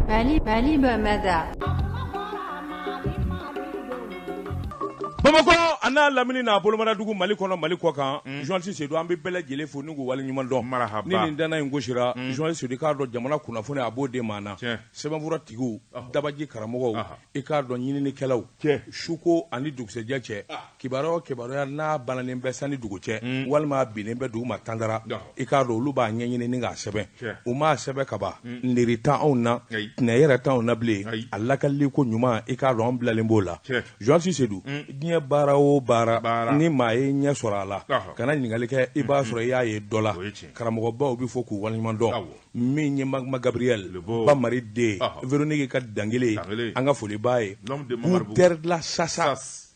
Mali Mali Bamada bamakɔ an n'a lamini n'a bolomara dugu mali kɔnɔ mali kɔ kan journaliste Sedu an bɛ bɛɛ lajɛlen fo ni k'u wale ɲuman dɔn ni nin dan in gosira journaliste Sedu i k'a dɔn jamana kunnafoni a b'o de maana sɛbɛnfura tigiw dabaji karamɔgɔw i k'a dɔn ɲininikɛlaw suko ani dugusɛjɛ cɛ Kibaruya o kibaruya n'a balannen bɛ san ni dugu cɛ walima a binnen bɛ dugu ma tantara i k'a dɔn olu b'a ɲɛɲini k'a sɛbɛn u m'a sɛbɛn kaban niri tan anw na tɛnɛ yɛrɛ tan na bilen a lakalili ko ɲuman i k'a dɔn an bilalen b'o la journaliste Sedu diɲɛ baara o baara ni maa ye ɲɛ sɔrɔ a la kana ɲininkali kɛ i b'a sɔrɔ i y'a ye dɔ la karamɔgɔbaw bɛɛ fo k'u waleɲuman dɔn min ye Magma Gabriel Ba Mari den Véronique ka dankelen an ka foliba ye teri la sasa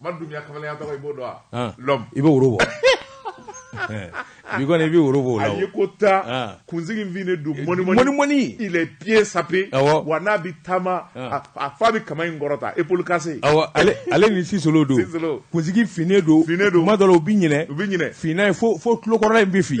Madu Dunbiya kamalenya tɔgɔ i b'o dɔn wa? An! L'homme i bɛ woro bɔ. Bi kɔni i bɛ woro bɔ o la o. A ye ko tan, an, kunsigi finnen don mɔni mɔni. Mɔni mɔni! Il est pieds sapés awɔ, wa n'a bɛ taama, an, a f'a bɛ kaman in kɔrɔta épaule cassée awɔ, ale ale ni Sisolo don, Sisolo, kunsigi finnen don, finnen don, tuma dɔ la u bɛ ɲinɛ, u bɛ ɲinɛ, finna in fo fo tulokɔrɔla in bɛ fin.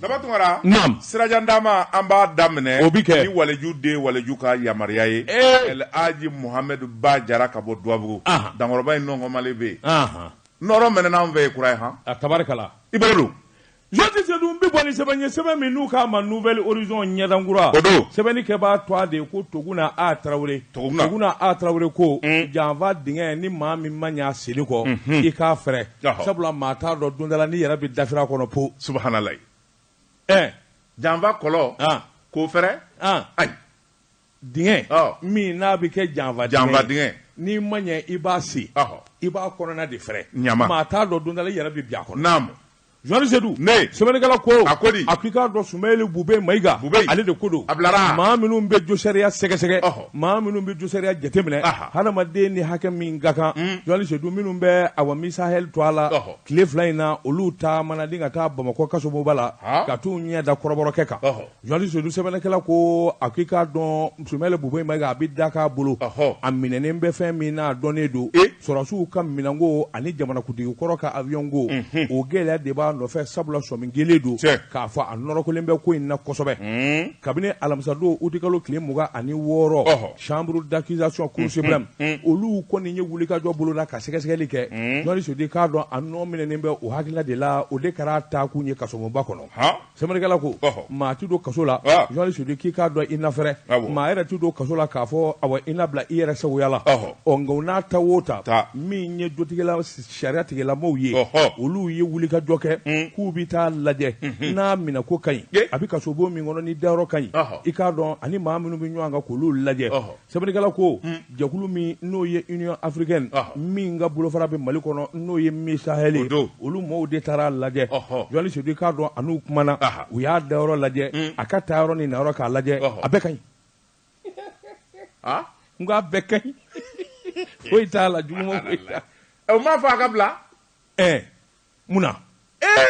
Daba Tunkara sira jan da ma an b'a daminɛ o bɛ kɛ ni waliju den waliju ka yamaruya ye Elihaji Muhamɛdi Ba Jara ka bɔ Dugabugu Dankɔrɔba in nɔnma bɛ yen nɔɔrɔ mɛnɛna an fɛ kura ye ha tabarikala i b'a dɔn journaliste Sedu n bɛ bɔ ni sɛbɛn ye sɛbɛn min n'u k'a ma Nouvel Horizon ɲɛda kura don sɛbɛnnikɛbaa tɔgɔ de ye ko Tuguna A Tarawele Tuguna A Tarawele ko janfa dingɛ ni maa min ma ɲɛ a senni kɔ i k'a fɛrɛ sabula maa t'a dɔn don dala n'i yɛrɛ bɛ dafiri a kɔnɔ po subahanala ɛɛ janfa kɔlɔ k'o fɛrɛ ayi dingɛ min n'a bɛ kɛ janfa janfa dingɛ n'i ma ɲɛ i b'a sen i b'a kɔnɔna de fɛrɛ ɲama maa t'a dɔn don dala i yɛrɛ bɛ bin a kɔnɔ naamu journaliste Sedu sɛbɛnnikɛla ko a ko di a k'i k'a dɔn Sumeyili Bube Mayiga Bube ale de ko don a bilara maa minnu bɛ josariya sɛgɛsɛgɛ ɔhɔ Maa minnu bɛ josariya jateminɛ hadamaden ni hakɛ min ka kan journaliste Sedu minnu bɛ a misa to a la tile fila in na olu taamana de ka taa bamakɔ kasoba la ka taa u ɲɛ da Kɔrɔbɔrɔkɛ kan journaliste Sedu sɛbɛnnikɛla ko a ko i k'a dɔn Sumeyili Bube Mayiga a bɛ da k'a bolo a minɛnen bɛ fɛn min n'a dɔnnen don sɔrɔsiw ka minɛnko ani jamanakuntigi kɔrɔ ka avion ko o gɛlɛya de b'a nɔfɛ sabula sɔmi kɛlen don k'a fɔ a nɔrɔkɔlen bɛ ko in na kosɛbɛ kabini alamisadon utikalo tile mugan ani wɔɔrɔ chambre d'accusation cour suprême mm, mm, mm. olu kɔni ye wulikajɔ bolo la ka sɛgɛsɛgɛli kɛ journaliste Sedu k'a dɔn a nɔ minɛnen bɛ u hakilila de la o de kɛra taakun ye kasobonba kɔnɔ sɛbɛnnikɛla ko maa tɛ don kaso la journaliste Sedu k'i k'a dɔn i nafɛɛrɛ maa yɛrɛ tɛ don kaso la k'a fɔ awa i nabila i yɛrɛ sagoya la ɔ nka o n'a ta o ta min ye jotigila sariyatigilamaw ye olu ye wuli ka jɔ kɛ k'u bɛ taa lajɛ n'a minɛ ko ka ɲi a bɛ kasobon min kɔnɔ ni dayɔrɔ ka ɲi i k'a dɔn ani maa minnu bɛ ɲɔgɔn kan k'olu lajɛ sɛbɛnnikɛla ko jɛkulu min n'o ye Union africaine min ka bolofara bɛ mali kɔnɔ n'o ye Misahel olu maaw de taara lajɛ journaliste Seydou k'a dɔn a n'u kumana u y'a dayɔrɔ lajɛ a ka taayɔrɔ ni nayɔrɔ k'a lajɛ a bɛɛ ka ɲi aa n ko a bɛɛ ka ɲi foyi t'a la juguman foyi t'a la ɛ o m'a fɔ a ka bila ɛɛ mun na ee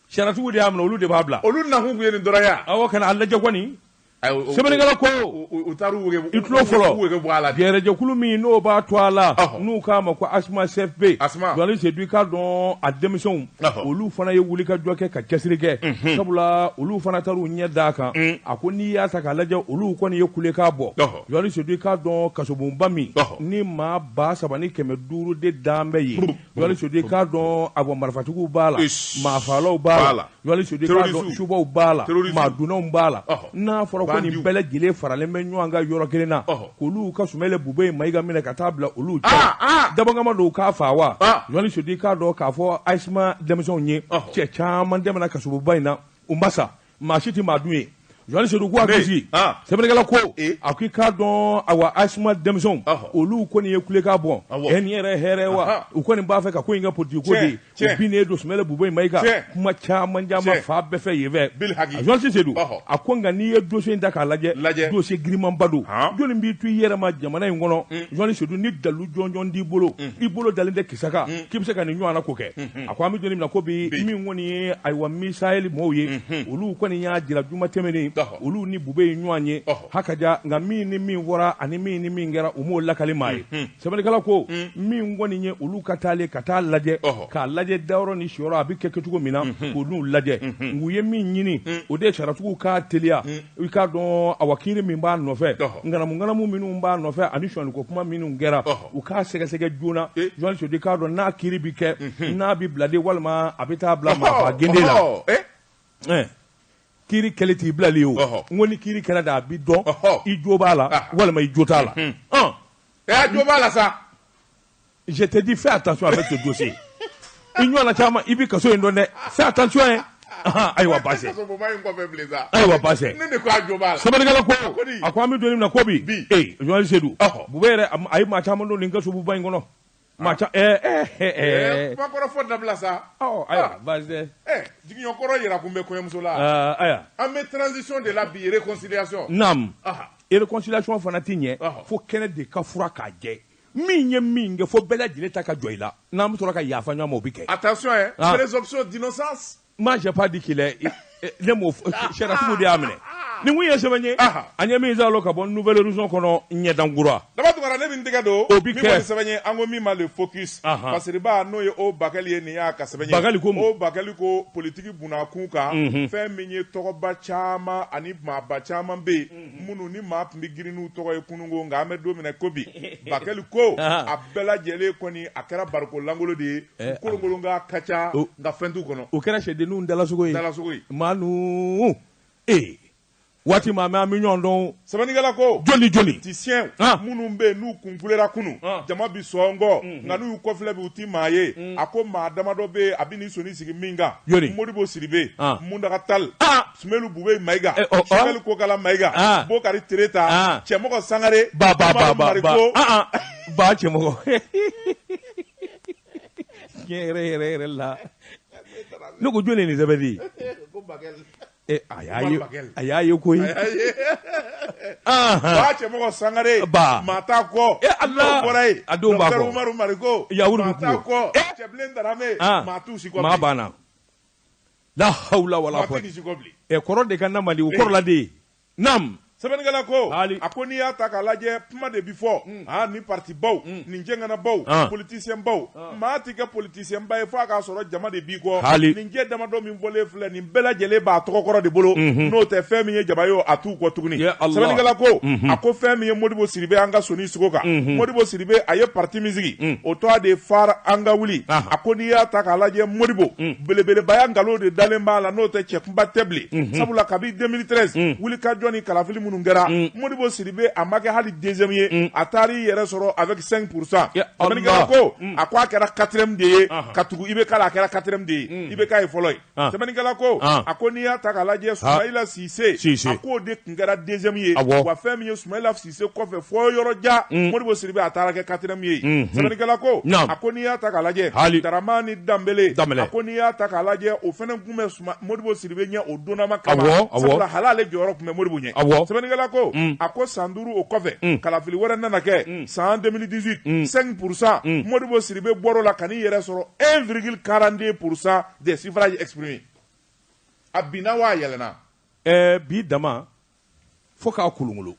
sariyatigiw de y'a minɛ olu de b'a bila olu nakun tun ye nin dɔrɔn ye a awɔ ka na a lajɛ kɔni Ayi, o- o- sɛbɛnnikɛla ko u- u u taar'u wege i tulo fɔlɔ u wege bɔ a la de. gɛrɛjɛkulu min n'o b'a to a la Ɔhɔ. n'u k'a ma ko asma cfp Asma. journaliste Seydou k'a dɔn a denmisɛnw olu fana ye wuli ka jɔ kɛ ka cɛsiri kɛ sabula olu fana taara u ɲɛ d'a kan a ko n'i y'a ta k'a lajɛ olu kɔni ye kulekan bɔ journaliste Seydou k'a dɔn kasobonba min ni maa ba saba ni kɛmɛ duuru de dan bɛ yen journaliste Seydou k'a dɔn a bɔ marifatigiw b'a la maafalaw b'a la journaliste Seydou k'a dɔn subaw b'a la maadunnaw b'a la n'a fɔra ko nin bɛɛ lajɛlen faralen bɛ ɲɔgɔn kan yɔrɔ kelen na k'olu ka Soumeylou Boubèye Maïga minɛ ka taa bila olu cɛ ah, ah! dabɔkama don k'a fa wa ah! journaliste Seydou k'a dɔn k'a fɔ Asma denmisɛnw ye cɛ caman tɛmɛna kasobonba in na u ma sa maa si tɛ maa dun yen journaliste Seydou ko a gosi sɛbɛnnikɛla ko eh. a ko i k'a dɔn awa Asma denmisɛnw olu kɔni ye kulekan bɔ ɛ nin yɛrɛ hɛrɛ wa u kɔni b'a fɛ ka ko in kɛ politiki ko de ye Tiɲɛ. o binnen don Soumeylou Boubèye Maïga Tiɲɛ. kuma caman caman Tiɲɛ. fan bɛɛ fɛ yen fɛ Bil haki. a journaliste Seydou Ɔhɔ. a ko nka n'i ye dossier in ta k'a lajɛ Lajɛ. dossier girimanba don Han. jɔnni b'i to i yɛrɛ ma jamana in kɔnɔ journaliste Seydou ni dalu jɔnjɔn t'i bolo i bolo dalen tɛ kisa kan k'i bɛ se ka nin ɲɔgɔnna ko kɛ a ko an bɛ don min na ko bi Bi. min kɔni ye ayiwa Misahel mɔgɔw ye olu kɔni y'a jira juma tɛmɛnen Ɔhɔ. olu ni bube ye ɲɔgɔn ye Ɔhɔ. ha ka ja nka min ni min fɔra ani min ni min kɛra u m'o lakali maa ye sɛbɛnnikɛla ko min kɔni ye olu ka taali ka taa lajɛ k'a lajɛ dayɔrɔ ni siyɔrɔ a bɛ kɛ kɛcogo min na ka ninnu lajɛ u ye min ɲini o de ye sariyatigiw k'a teliya i k'a dɔn awa kiri min b'a nɔfɛ nganamunganamu minnu b'a nɔfɛ ani sɔnni ko kuma minnu kɛra u k'a sɛgɛsɛgɛ joona journaliste Seydou k'a dɔn n'a kiri bɛ kɛ n'a bɛ bila de walima a bɛ taa bila maa gde la kiri kɛli t'i bilali o n ko ni kiri kɛra de a bi dɔn i jo b'a la ah. walima i jo t'a la hmm. ɛ jo b'a la sa je te dis fais attention avec ce dossier i ɲɔgɔnna caman i bɛ kaso in dɔn dɛ fais attention ye ayiwa baasi ayiwa baasi sɛbɛnnikɛla ko a ko an bɛ don min na ko bi ee journaliste Seydou bubɛ yɛrɛ a ye maa caman don nin kasobonba in kɔnɔ Maa ca ɛɛ ɛɛ ɛɛ ɛɛ kuma kɔrɔ fɔ dabila sa ɔ ayiwa ah. baasi tɛ ɛ jigiɲɛ kɔrɔ yira kun bɛ kɔɲɔmuso la ah, ayiwa an bɛ transition de la bi réconciliation naam ah. réconciliation fana ti ɲɛ fo kɛnɛ de ka furan k'a jɛ min ye min kɛ fo bɛɛ lajɛlen ta ka jɔ i la n'an bɛ sɔrɔ ka yafa ɲɔgɔn ma o bɛ kɛ attention ɛ présomption d'innocence Moi, j'ai pas dit qu'il est. Ne m'o sariyatigiw de y'a minɛ. Ni min ye sɛbɛn ye. An ye min zalo ka bɔ Nouvel Horizon kɔnɔ ɲɛdankura. Daba Tunkara ne bɛ tɛgɛ don. O bi kɛ. Min ye sɛbɛn ye an ko min ma le focus. Masiriba n'o ye o bakɛli ye nin y'a ka sɛbɛn ye. Bakɛli ko o bakɛli ko politique bunakun kan. Fɛn min ye tɔgɔba caman ani maaba caman bɛ yen. Minnu ni maa tun bɛ girin n'u tɔgɔ ye kunun ko nka an bɛ don min na ko bi. Bakɛli ko a bɛɛ lajɛlen kɔni a kɛra barikon lankolon de ye. eh, kolonkolon kan ka ca nka fɛn t'u kɔnɔ o kɛra sɛdenninw dalasogo ye dalasogo ye maa nu ee waati ma mɛ an bɛ ɲɔgɔn dɔn sɛbɛnnikɛla ko politicien minnu bɛ yen n'u kun kulera kunun jama bi sɔn kɔ mhm. nka n'u y'u kɔfilɛ bi u ti maa ye mhm. a ko maa damadɔ bɛ yen a bɛ n'i sɔnin sigi min kan modibo sidibe muntaga tali sumelu bube mayiga eh, oh, oh. sogɛli kokala mayiga bokari tereta cɛmɔgɔ sangare mariko ba cɛmɔgɔ tiɲɛ yɛrɛ yɛrɛ yɛrɛ la ne ko jɔn de ye nin sɛbɛn di ko bakɛli Eh, a y'a ye a y'a ye koyi ba cɛmɔgɔ sangare ba maa t'a kɔ e ala bɔra yen a denw b'a kɔ umaru mariko yawuru maa t'a kɔ cɛbilen darame maa t'u si kɔ maa banna la hawla wala quwwata ɛ kɔrɔ de ka na mali o kɔrɔla de ye Naamu sɛbɛnnikɛla ko Haali. a ko n'i y'a ta k'a lajɛ kuma de bi fɔ hmm. aa ni parti baw hmm. ni cɛŋanabaw ah. politicien baw ah. maa tɛ kɛ politicien ba ye f'a k'a sɔrɔ jama de b'i kɔ Haali. nin cɛ damadɔ min fɔlen filɛ nin bɛɛ lajɛlen b'a tɔgɔ kɔrɔ de bolo mhm. n'o tɛ fɛn min ye jama ye o a t'u kɔ tuguni Ya Allah. sɛbɛnnikɛla ko mhm. a ko fɛn min ye Modibo Sidibe an ka sɔnin sigi o kan mhm. Modibo Sidibe a ye parti min sigi mm. o tɔgɔ de ye FARE an ka wuli ah. a ko n'i y'a ta k'a lajɛ Modibo mm. belebelebaya nkalon de dalen b'a la n'o tɛ cɛkunba tɛ bilen sabula kabi 2013 wulikajɔ ni kalafili minnu kɛra Modibo Sidibe a ma kɛ hali deuxième ye a taara i yɛrɛ sɔrɔ avec 5 pour cent sɛbɛnnikɛla ko a ko a kɛra quatrième de ye ka tugu IBK la a kɛra quatrième de ye IBK ye fɔlɔ ye sɛbɛnnikɛla ko a ko n'i y'a ta k'a lajɛ Soumayila Sise a k'o de tun kɛra deuxième ye wa fɛn min ye Soumayila se kɔfɛ fo yɔrɔ jan mm. modibo sidibe a taara kɛ quatrième ye mm, mm. sɛbɛnnikɛla ko a ko n'i y'a ta k'a lajɛ hali daramani danbele a ko n'i y'a ta k'a lajɛ o fana tun bɛ suma modibo sidibe ɲɛ o donnama kama sabula hali ale jɔyɔrɔ tun bɛ modibo ɲɛ sɛbɛnnikɛla ko a ko san duuru o kɔfɛ kalafili wɛrɛ nana kɛ san 2018 5 pourcent modibo sidibe bɔr'o la ka n'i yɛrɛ sɔrɔ 1 virgule 42 pourcent des suffrages exprimés a binna wa a yɛlɛnna ɛɛ bi dama fo k'a kolonkolon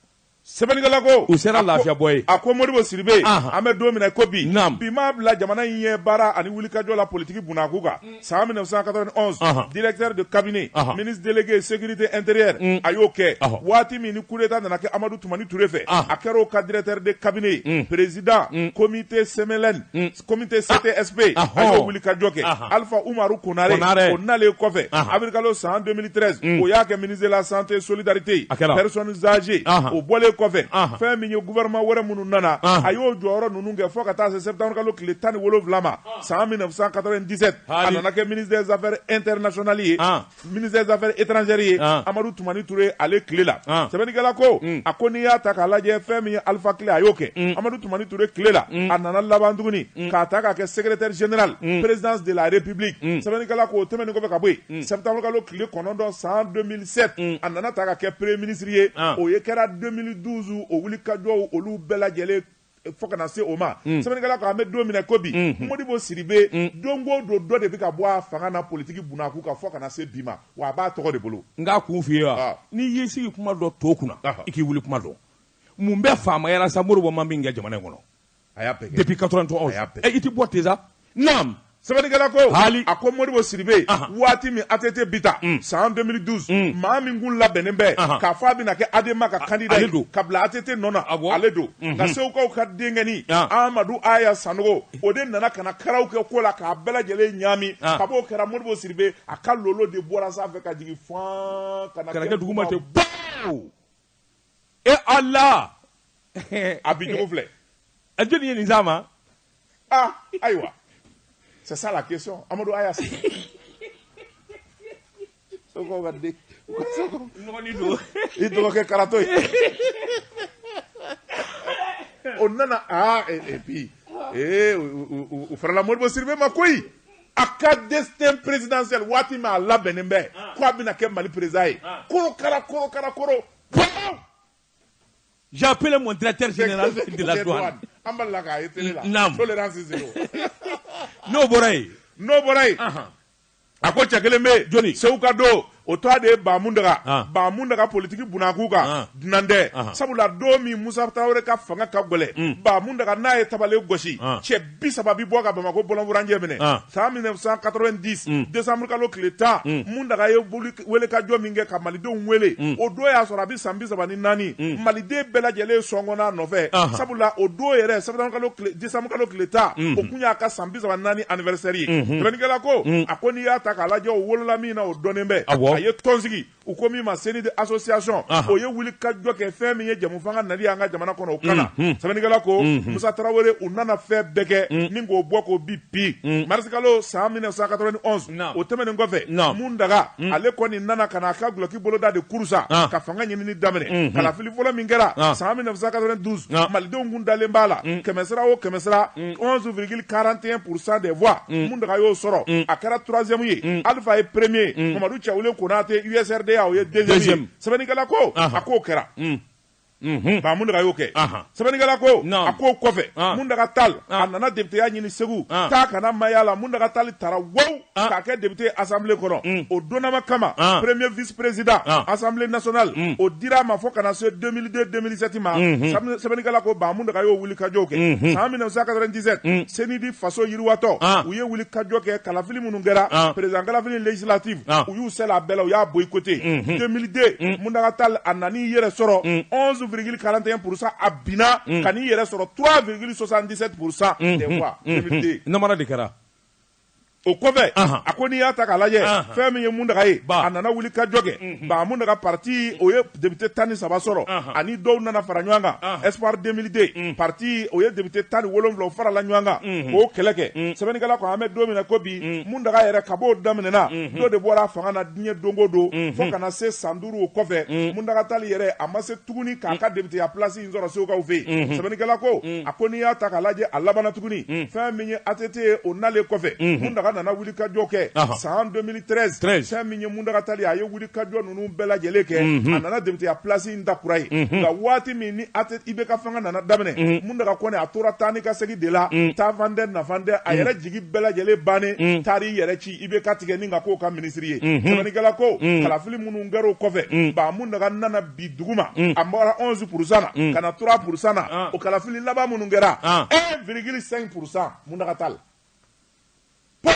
sɛbɛnnikɛla ko u sera lafiyabɔ ye a ko Modibo Sidibe an bɛ don min na ko bi bi m'a bila jamana in ye baara ani wulikajɔ la politiki bunakun kan mm. san 1991 directeur de cabinet ministre délégué sécurité intérieure mm. a y'o kɛ waati min ni coup d'état nana kɛ Amadu Tumani Ture fɛ a kɛra o ka directeur de cabinet ye mm. président comité CMLN komite ctsp ah, a y'o wulikajɔ kɛ alifa umaru konare o nalen kɔfɛ abirikalo san 2013 o y'a kɛ ministre de la santé solidarité personnes âgées o bɔlen kɔfɛ fɛn min ye gouvernement wɛrɛ minnu nana a y'o jɔyɔrɔ ninnu kɛ fo ka taa se septembre kalo tile tan ni wolonwula ma san 1997 a nana kɛ ministre des affaires internationales ye ministre des affaires étrangères ye ah. Amadou Toumani Touré ale tile la ah. sɛbɛnnikɛla ko mm. a ko n'i y'a ta k'a lajɛ fɛn min ye Alpha tile a y'o kɛ mm. Amadou Toumani Touré tile la mm. a nana laban tuguni k'a ta k'a kɛ secrétaire général présidence de la république sɛbɛnnikɛla ko o tɛmɛnen kɔfɛ ka bɔ yen septembre kalo tile kɔnɔntɔn san 2007 a nana ta ka kɛ premier ministre ye ah. o ye kɛra 2012 o wulikajɔw olu bɛɛ lajɛlen fo ka na se o ma mm. sɛbɛnnikɛla ko an bɛ don min na ko bi mm. modibo sidibe mm. don o don dɔ de bɛ ka bɔ a fanga na politiki bunakun kan fo ka na se bi ma wa a b'a tɔgɔ de bolo n k'a kun f'i ye wa ah. n'i y'i sigi kuma dɔn to kunna i k'i wuli kuma dɔn mun bɛ faamaya la sa modibo ma min kɛ jamana in kɔnɔ a y'a bɛɛ kɛ depuis 91 i tɛ bɔ ten sa naam sɛbɛnnikɛla ko Haali. a ko modibo sidibe Ahan. waati min ATT bi taa san 2012 maa min kun labɛnnen bɛ Ahan. k'a fɔ a bɛna kɛ ADEMA ka kandida ye ale don. ka bila ATT nɔ na Awɔ. ale don nka segukaw ka denkɛnin Ah. amadu aya sanogo o de nana ka na karaw kɛ ko la k'a bɛɛ lajɛlen ɲaami Ah. kab'o kɛra modibo sidibe a ka lolo de bɔra sanfɛ ka jigin fan ka na ka na kɛ duguma ten. baw e ala a bi cogo filɛ a jɔni ye nin s'a ma ah ayiwa c'est ça la question amadu aya se seguka de n dɔgɔnin don i dɔgɔkɛ karatɔ ye o nana aa ah, et puis ee u farala modibo sidibe ma koyi a ka destin présidentiel waati min a labɛnnen bɛ ah. ko a bɛna kɛ mali président ye ah. korokara korokara koro j'ai appelé mon directeur général de la douane an b'a la k'a ye télé la naam tolérance zero n'o bɔra yen n'o bɔra yen a ko cɛ kelen bɛ yen jɔni seguka don o tɔ de ye ba muntaga ah. ba muntaga politiki bunakun kan ah. dunan tɛ ah. sabula don min musa tarawele ka fanga ka gɛlɛn mm. ba muntaga n'a ye tabalen gosi cɛ bi saba bi bɔ ka bamakɔ bɔlɔnfurancɛ minɛ san 1990 mm. desanburu kalo tile tan mm. muntaga ye wulikajɔ min kɛ ka malidenw wele o don y'a sɔrɔ a bɛ san bi saba ni naani maliden bɛɛ lajɛlen sɔngɔnn'a nɔfɛ sabula o don yɛrɛ desanburu kalo tile tan o kun y'a ka san bi saba naani anniversaire ye sɛbɛnnikɛla mm-hmm. ko a ko n'i y'a ta k'a lajɛ o wolola na o dɔnnen bɛ Awɔ. a ye tɔn sigi u ko min ma CNID association Aha. o ye wuli ka jɔ kɛ fɛn min ye jɛmufanga nali an ka jamana kɔnɔ o kana sɛbɛnnikɛla ko Musa Tarawele u nana fɛn bɛɛ kɛ ni k'o bɔ k'o bin pii marisikalo san 1991 Naam. o tɛmɛnen kɔfɛ Naam. Muntaga ale kɔni nana ka na a ka gulɔki boloda de kuru sa Ah. ka fanga ɲinini daminɛ kalafili fɔlɔ min kɛra Ah. san 1992 Ah. malidenw kun dalen b'a la kɛmɛsira o kɛmɛsira 11,41 pour cent des voix mm. Muntaga y'o sɔrɔ mm. a kɛra troisième ye mm. Alpha ye premier ye Mamadu Cɛwule Konate USRDA o ye deuxième ye sɛbɛnnikɛla ko a k'o kɛra Mhm. ba Muntaga y'o kɛ sɛbɛnnikɛla ko a k'o kɔfɛ Muntaga Tal a nana deputeya ɲini Segu taa kana maya la Muntaga Tali tara wo ah. k'a kɛ député assemblée kɔnɔ mm. o donnama kama ah. premier vice président ah. assemblée nationale mm. o dira a ma fo ka na se 2002 2007 ma mm-hmm. sɛbɛnnikɛla ko ba Muntaga y'o wulikajɔw kɛ mm-hmm. san 1997 mm. CNID Faso Yiriwa Tɔn u ye wulikajɔ kɛ kalafili minnu kɛra président kalafili législative u y'u sɛlɛ a bɛɛ la u y'a boycotté 2002 mm-hmm. Muntaga Tal a nan'i yɛrɛ sɔrɔ 11 virgule 41 pourcent a binna ka n'i yɛrɛ sɔrɔ 3 virgule 77 pourcent des voix 2002 namara de kɛra o kɔfɛ a ko n'i y'a ta k'a lajɛ fɛn min ye Muntaga ye a nana wuli ka jɔ kɛ ba Muntaga pati o ye député tan ni saba sɔrɔ ani dɔw nana fara ɲɔgɔn kan espoir 2002 pati o ye député tan ni wolonwula o farala ɲɔgɔn kan k'o kɛlɛ kɛ sɛbɛnnikɛla ko an bɛ don min na ko bi Muntaga yɛrɛ kab'o daminɛna dɔ de bɔra a fanga na diɲɛ don go don fo ka na se san duuru o kɔfɛ Muntaga Tali yɛrɛ a ma se tuguni k'a ka deputeya plasi sɔrɔ Segukaw fɛ yen sɛbɛnnikɛla ko a ko n'i y'a ta k'a lajɛ a labanna tuguni fɛn min ye ATT ye o nalen kɔfɛ Muntaga nana wulikajɔ kɛ san 2013 fɛn min ye Muntaga Tali a ye wulikajɔ ninnu bɛɛ lajɛlen kɛ a nana deputeya pilasi in ta kura ye nka waati min ni ATT IBK fanga nana daminɛ Muntaga kɔni a tora taa ni ka segin de la taafan tɛ nafan tɛ a yɛrɛ jigi bɛɛ lajɛlen bannen taar'i yɛrɛ ci IBK tigɛ ni ka k'o ka minisiri ye sɛbɛnnikɛla ko kalafili minnu kɛra o kɔfɛ ba Muntaga nana bin duguma mm. a bɔra 11 pourcent na mm. ka na 3 pourcent na ah. o kalafili laban minnu kɛra 1,5 ah. pourcent Muntaga Tal po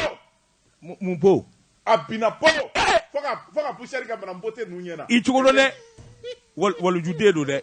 mun po a binna po eh! fo ka fo ka poussière ka bana mbote ninnu ɲɛ na i cogo dɔn dɛ walijuden don dɛ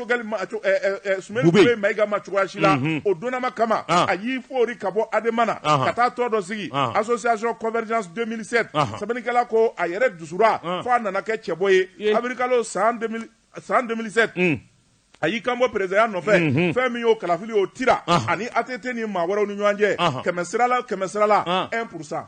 cogoya si la o donnama kama a y'i fori ka bɔ ADEMA na ka taa tɔn dɔ sigi association Convergence 2007 sɛbɛnnikɛla ko a yɛrɛ dusura fo a nana kɛ cɛbɔ ye awirilikalo san 2007 a y'i kanbɔ peresidanya nɔfɛ fɛn min y'o kalafili o tira a ni ATT ni maa wɛrɛw ni ɲɔgɔn cɛ kɛmɛ sirala kɛmɛ sirala 1 pourcent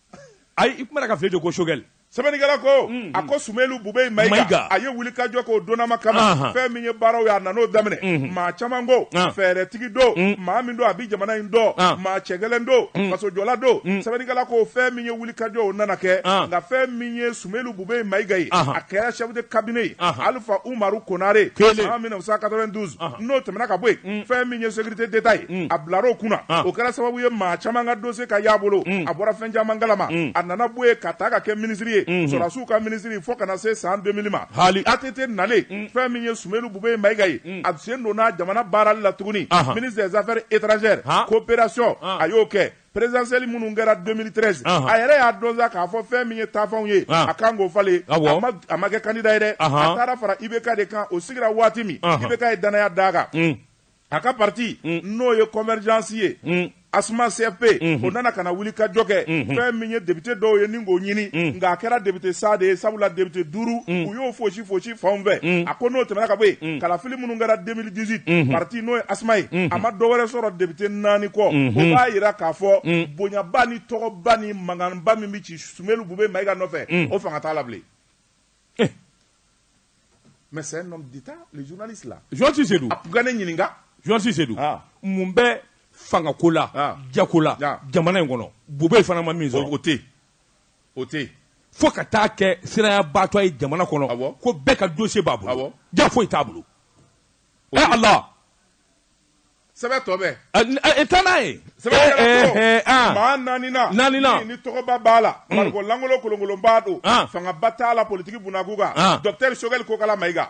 ayi i kuma k'a fɔ ko sogɛli sɛbɛnnikɛla ko a ko sumelu bube mayiga a ye wuli ka jɔ k'o donama kama fɛn min ye baaraw ye a nan'o daminɛ maa caman ko fɛɛrɛtigi don maa min don a bɛ jamana in dɔn maa cɛ gɛlɛn don fasojɔla don sɛbɛnnikɛla ko fɛn min ye wuli ka jɔ o nana kɛ nka fɛn min ye Sumelu Bube Mayiga ye, anhan, a kɛra chef de cabinet ye, anhan, Alifa Umaru Konare, kelen, san 1992, anhan, n'o tɛmɛna ka bɔ yen, un, fɛn min ye sécurité d'Etat ye, un, a bilara o kunna, an, o kɛra sababu ye maa caman ka dossier ka y'a bolo, un, a bɔra fɛn caman kalama, un, a nana bɔ yen ka taa ka kɛ ministre ye, unhun, sɔrɔdasiw ka ministre fo ka na se san 2000 ma, haali, ATT nalen, un, fɛn min ye Sumelu Bube Mayiga ye, un, a sen donna jamana baarali la tuguni, anhan, ministre des affaires étrangères, han, coopération, an, a y'o kɛ, présidentielle minnu kɛra 2013 a yɛrɛ y'a dɔn sa k'a fɔ fɛn min ye taafanw ye a kan k'o falen a ma kɛ kandida ye dɛ a taara fara IBK de kan o sigira waati min IBK ye dannaya d'a kan a ka pati n'o ye Convergence ye ASMA CFP o nana ka na wuli ka jɔ kɛ fɛn min ye depite dɔw ye ni k'o ɲini nka a kɛra depite sa de ye sabula depite duuru u y'o fosi fosi fan fɛ a ko n'o tɛmɛna ka bɔ yen kalafili minnu kɛra 2018 pati n'o ye ASMA ye a ma dɔ wɛrɛ sɔrɔ depite naani kɔ o b'a jira k'a fɔ bonyaba ni tɔgɔba ni mankanba min bɛ ci sumelu bube mayiga nɔfɛ o fanga t'a la bilen mais c'est ne ɲininkakasise mun bɛ fangako la jagola jamana in kɔnɔ bube fana ma min sɔrɔ o tɛ o tɛ fo ka taa kɛ siranyabaatɔ ye jamana kɔnɔ ko bɛɛ ka dossier b'a bolo jaa foyi t'a bolo ala sɛbɛ tɔ bɛ e taa n'a ye maa naani naani ni tɔgɔba b'a la bariko lankolon kolonkolonba don fangaba t'a la politigi bun a ku kan docteur sogɛli kokala mayiga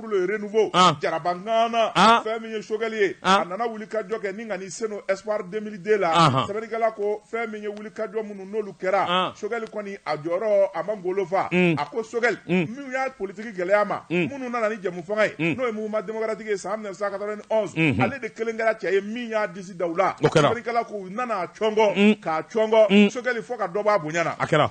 renouveau ah. jaraba ŋana ah. fɛn min ye sogɛli ye ah. a nana wuli ka jɔ kɛ ni ka n'i sen don espoir 2002 la ah. sɛbɛnnikɛla ko fɛn min ye wuli ka jɔ minnu n'olu kɛra ah. sogɛli kɔni a jɔyɔrɔ a ma ngolo fa mm. a ko sogɛli mm. minnu y'a politiki gɛlɛy'a ma mm. minnu nana ni jɛmufanga ye mm. n'o ye mouvement démocratique ye san 1991 mm -hmm. ale de kelen kɛra cɛ ye min y'a disi da u la sɛbɛnnikɛla ko u nana a cɔngɔ mm. k'a cɔngɔ mm. sogɛli fo ka dɔ bɔ a bonya na a kɛra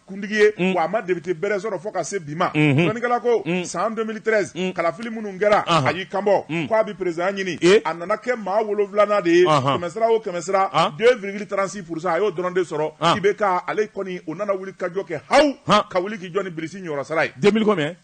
kuntigi ye mm. wa a ma depite bɛrɛ sɔrɔ fo ka se bi ma mm-hmm. sɛbɛnnikɛla ko mm. san 2013 mm. kalafili minnu kɛra uh-huh. a y'i kanbɔ mm. ko a bɛ perezidan ɲini eh? a nana kɛ maa wolonwulanan de ye uh-huh. kɛmɛsira o kɛmɛsira 2,36 ah. pourcent a y'o dɔrɔn de sɔrɔ ah. IBK ale kɔni o nana wuli ka jɔ kɛ haw ka wuli k'i jɔ ni bilisi ɲɔrɔ sara ye 2000 combien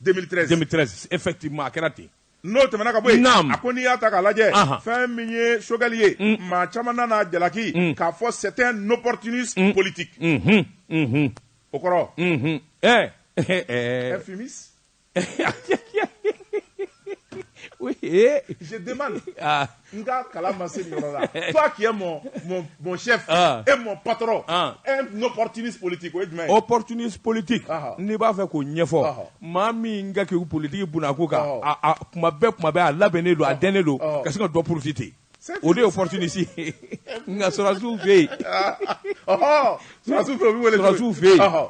2013 2013 effectivement a kɛra ten n'o tɛmɛna ka bɔ yen a ko n'i y'a ta k'a lajɛ fɛn min ye sogɛli ye mm. maa caman nan'a jalaki mm. k'a fɔ c'est un opportuniste mm. politique mm-hmm. Mm-hmm. o kɔrɔ mm-hmm. eh, eh, eh. un fumiste n ka kala ma se yɔrɔ la fa k'i mɔ mɔ shɛ e mɔ patɔ eɔripolitigi o jumɛn o pɔripolitigi n'i b'a fɛ k'o ɲɛfɔ maa min ka kɛ politigi bon a ko kan kuma bɛɛ kuma bɛ a labɛn ne don a dɛmɛ ne don ka sin ka dɔ porosi ten o de yeɔrɔnisi nka sɔrɔsiw fɛ yensiw fɛ yen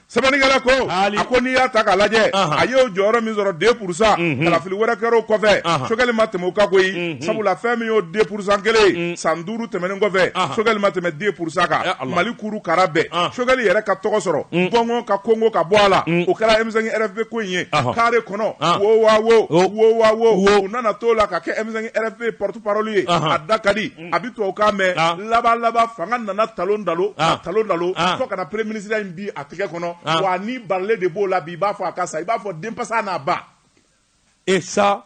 Sɛbɛnnikɛla ko a ko n'i y'a ta k'a lajɛ a y'o jɔyɔrɔ min sɔrɔ deux pour cent kalafili wɛrɛ kɛra o kɔfɛ Choguel ma tɛmɛ o kan koyi sabula fɛn min y'o deux pour cent kelen ye san duuru tɛmɛnen kɔfɛ Choguel ma tɛmɛ deux pour cent kan mali kuru kara bɛɛ Choguel yɛrɛ ka tɔgɔ sɔrɔ gɔngɔn ka konkon ka bɔ a la o kɛra M5 RFP ko in ye kare kɔnɔ wo wa wo wo wa wo u nana t'o la ka kɛ M5 RFP porte-parole ye a da ka di a bɛ tubabukan mɛn ah. laban laban fanga nana talon talon ah. talon talon ah. fo ka na premier ministre in bin a tɛgɛ kɔnɔ wa nin balannen de b'o la bi i b'a fɔ a ka sa i b'a fɔ denpasa n'a ba et ça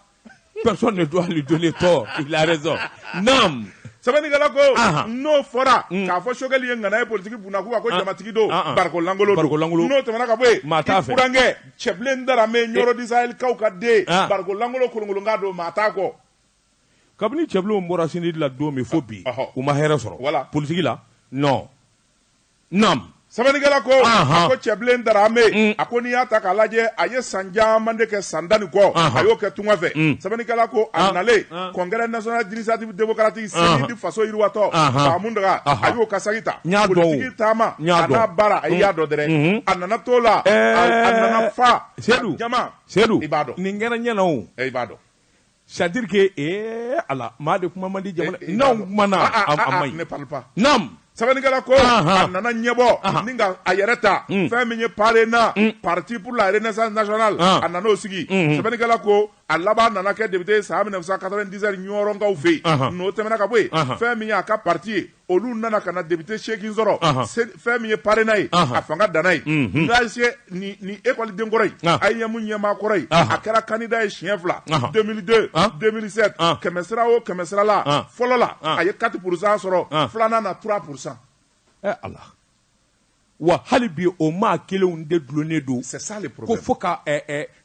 personne ne doit lui donner tort il a raison nam sɛbɛnnikɛla ko n'o fɔra mm. k'a fɔ Choguel ye ŋana ye politiki bunakun kan ko jamatigi don barikon lankolon don n'o tɛmɛna ka bɔ yen i burankɛ Cɛbilen Darame Ɲɔrɔ du Sahel kaw ka den barikon lankolon kolonkolonkan don maa t'a kɔ kabini Cɛbilenw bɔra CNID la don min fo bi u ma hɛrɛ sɔrɔ politigi la non naamu sɛbɛnnikɛla ko a ko Cɛbilen Darame a ko n'i y'a ta k'a lajɛ a ye san caman de kɛ san tan ni kɔ a y'o kɛ tunga fɛ sɛbɛnnikɛla ko a nalen congrès national d'initiative démocratique CNID faso yiriwa tɔn fa Mountaga a y'o ka saki ta politigi taama n'a baara a y'a dɔn dɛrɛ a nana t'o la a nana fa sedu jama sedu i b'a dɔn nin kɛra ɲɛna i b'a dɔn c'est à dire que ee ala maa de kuma man di jamana eh, eh, n'anw kumana ah, ah, a ah, man ɲi naam sɛbɛnnikɛla ko a nana ɲɛbɔ ni ka a yɛrɛ ta mm. fɛn min ye PARENA mm. parti pour la renaissance nationale a nan'o sigi mm-hmm. sɛbɛnnikɛla ko a laban nana kɛ député san 1997 ɲɔrɔnkaw fɛ yen n'o tɛmɛna ka bɔ yen fɛn min ye a ka parti ye olu nana ka na député seegin sɔrɔ fɛn min ye PARENA ye a fanga danna yen mhm. nse ni ekɔliden kɔrɔ ye AEEM ɲɛmaa kɔrɔ ye a kɛra candidat ye siɲɛ fila 2002 2007 kɛmɛ sira o kɛmɛ sira la fɔlɔ la a ye quatre pour cent sɔrɔ filanan na trois pour cent wa hali bi o maa kelenw de dulonnen don ko fo ka